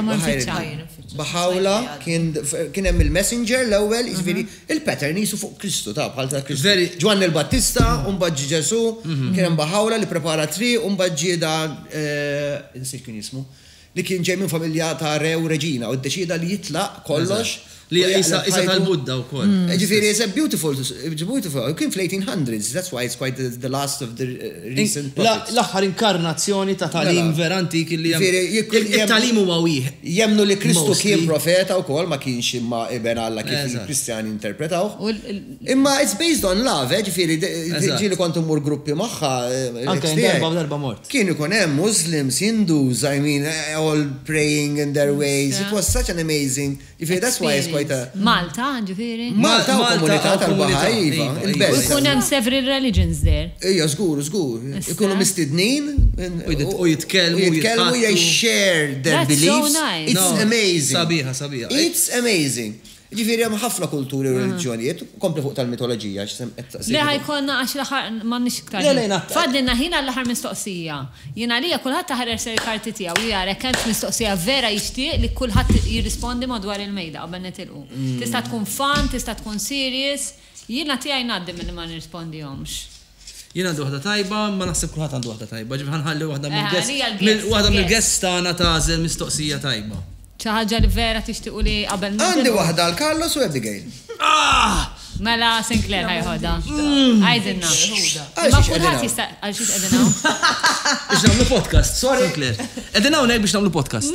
Bahá'u'lláh kien kien hemm il-messenger l-ewwel, jiġifieri il-pattern qisu fuq Kristu, taf, bħal ta' Kristu. Veri. Ġwanni l-Battista u mbagħad ġie Ġesù, kien hemm Bahá'u'lláh li pprepara t-triq u mbagħad ġie dan insejt kien jismu, li kien ġej minn familja ta' re u reġina u ddeċieda li jitlaq kollox Li hija qisha qisha tal-Buddha wkoll. Ġifieri it's a beautiful, it's beautiful, u kien fl-1800s, that's why it's quite the last of the recent prophets. L-aħħar inkarnazzjoni ta' tagħlim vera antik li hemm. Ġifieri jekk kien. It-tagħlim huwa wieħed. Jemmnu li Kristu kien profeta wkoll ma kienx imma iben Alla kif il-Kristjani jinterpretawh. Imma it's based on love, ġifieri ġieli kont immur gruppi magħha. Anke darba u darba mort. Kien ikun hemm Muslims, Hindus, I mean all praying in their ways, it was such an amazing. Ġifieri that's why it's quite a. Malta, ġifieri. Malta u komunità tal-Baha'i, iva, iva, il-belt. U jkun hemm several religions there. Ejja, żgur, żgur. Ikunu mistednin. U jitkellmu. U jitkellmu, jitkellmu, they share their beliefs. That's so nice. It's amazing. Sabiħa, sabiħa. It's amazing. Ġifieri hemm ħafna kulturi u reliġjonijiet. Kompli fuq tal-mitoloġija għax sem qed saqsejtni fuq. Le ħa jkollna għax l-aħħar m'għandniex iktar ħin. Le le ngħadd. Fadlilna ħin għall-aħħar mistoqsija. Jien għalija kulħadd aħħar jersel il-karti tiegħu u jara jekk hemmx mistoqsija vera jixtieq li kulħadd jirrispondi madwar il-mejda qabel nitilqu. Tista' tkun fun, tista' tkun serious. Jiena tiegħi ngħaddi milli ma nirrispondihomx. Jien għandi waħda tajba, imma naħseb kulħadd għandu waħda tajba, ġifieri ħa nħalli waħda Eh, mill-guests- għalija l-guests, waħda guests. mill-guests tagħna tagħżel mistoqsija tajba. Xi ħaġa li vera tixtiequ li qabel nibdew- Għandi waħda għal Carlos u Abigail. Ah! Mela Sinclair ħa jħodha. Għidilna. Għal Imma xiex qegħdin kulħadd hawn? jista' għal xiex qegħdin hawn? Biex nagħmlu podcast, sorry. Sinclair. Qegħdin hawnhekk biex nagħmlu podcast.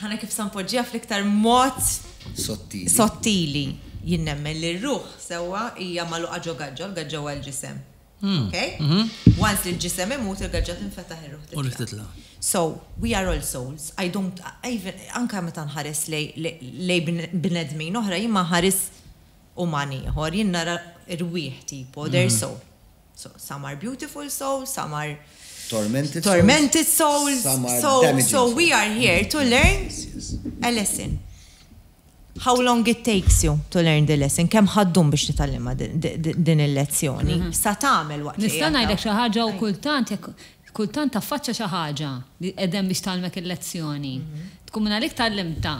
Ħana kif sa npoġġiha fl-iktar mod sottili. Sottili. Jien nemmen li r-ruħ sewwa hija magħluqa ġo gaġġa, l-gaġġa huwa l-ġisem. Hmm. Okay? Mhm. Once li l-ġisem imut, il-gaġġa tinfetaħ ir-ruħ titla'. U ruħ titla'. So, we are all souls. I don't, even, anka meta nħares lej, lej bnedmin oħra, jien ma nħares umani ieħor, jien nara rwieħ tipo, their soul. Some are beautiful souls, some are tormented, tormented souls, some are so, damaging so we are here to mm-hmm. learn yes, yes. a lesson. How long it takes you to learn the lesson? Kemm ħaddum biex titgħallimha din il-lezzjoni? Mm-hmm. Sa tagħmel waqt Nista' ngħidlek xi ħaġa u kultant Kultant taffaċċja xi ħaġa li qed hemm biex tgħallmek il-lezzjoni. Tkun minn għalik tgħallimtha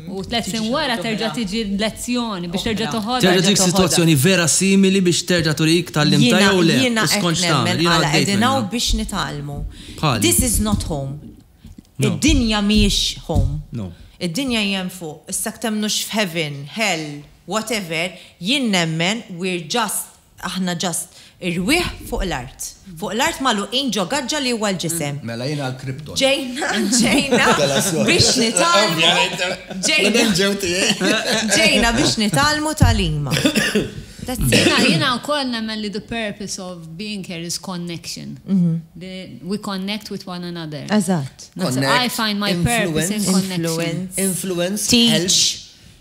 u tliet snin wara terġa' tiġi l-lezzjoni biex terġa' toħodha. Terġa' tiġik sitwazzjoni vera simili biex terġa' turik tgħallimtha jew le u skont x'tagħmel. Jiena hekk għaddejt minnha. Jiena hekk nemmen għala qegħdin hawn biex nitgħallmu. Bħali. This is not home. Id-dinja mhijiex home. No. Id-dinja hi hemm fuq. Issa jekk temmnux f'heaven, hell, whatever, jien nemmen we're just Aħna just irwieħ fuq l-art. Fuq l-art magħluqin ġo gaġġa li huwa l-ġisem. Mela jiena l-Krypton. Ġejna, ġejna biex nitgħallmu, ġejna, ġejna biex nitgħallmu tagħlima. That's it. Jiena wkoll nemmen li the purpose of being here is connection. We connect with one another. Eżatt. I find my purpose in connection. Influence. Influence. Teach.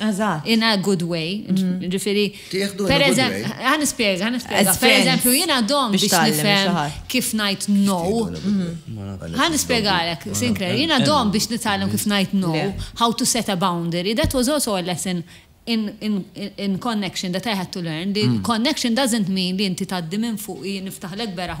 Eżatt. In a good way. Mm. Ġifiri. Tieħdu in a good way. Għan ispiega, għan ispiega. Per eżempju, jina dom biex nifhem kif najt no. Mm. Għan ispiega għalek, Sinclair, jina dom biex nitgħallem kif najt no, how to set a boundary. That was also a lesson in, in, in connection that I had to learn. The mm. connection doesn't mean li inti taddi minn fuq niftaħlek beraħ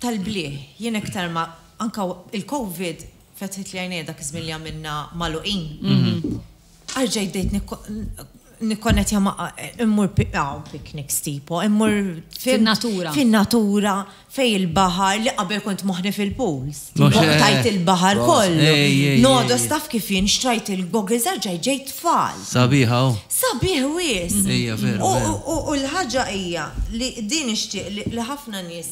tal-blieh. Jien iktar ma, anke il-Covid fetħitli għajnejja dak iż-żmien li għamilna magħluqin. Arġajt bdejt nikkonnettja ma' immur hawn picnics tipo, immur fin-natura. Fin-natura, fejn il-baħar li qabel kont moħħni fil-pools. Tajt il-baħar kollu. Nodos taf kif jien xtrajt il-goggles arġajt ġejt tfal. Sabiħa u. Sabiħ wisq. U l-ħaġa hija li din nixtieq li ħafna nies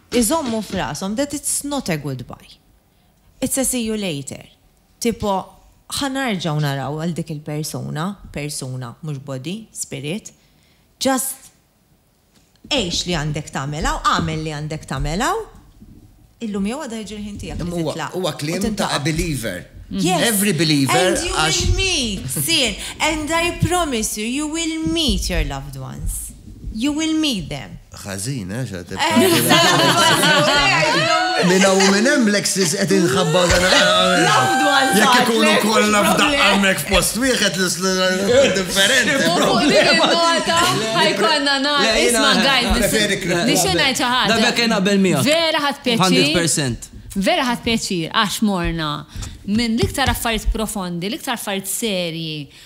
Iżommu f'rashom that it's not a goodbye. It's a see you later. Tipo, ħa narġgħu naraw lil dik il-persuna, persuna, mhux body, spirit. Just għix li għandek tagħmel hawn, agħmel li għandek tagħmel hawn. Illum jew għada jiġi l-ħin tiegħek li titlaq. Huwa kliem ta' a believer. Every believer. And you will meet, sir. And I promise you, you will meet your loved ones. You will meet them. Ħażin, eh, xa tibqa. Minna u minn hemm Lexis qed inħabba dan. Jekk ikunu kollha f'daqqa hemmhekk f'post wieħed l differenti. Ħajkonna nar, isma' gajn. Nixxu ngħid xi ħaġa. Dabek kien qabel miegħek. Vera ħadd pjaċir. 100%. Vera ħadd pjaċir għax morna minn l-iktar affarijiet profondi, l-iktar affarijiet serji,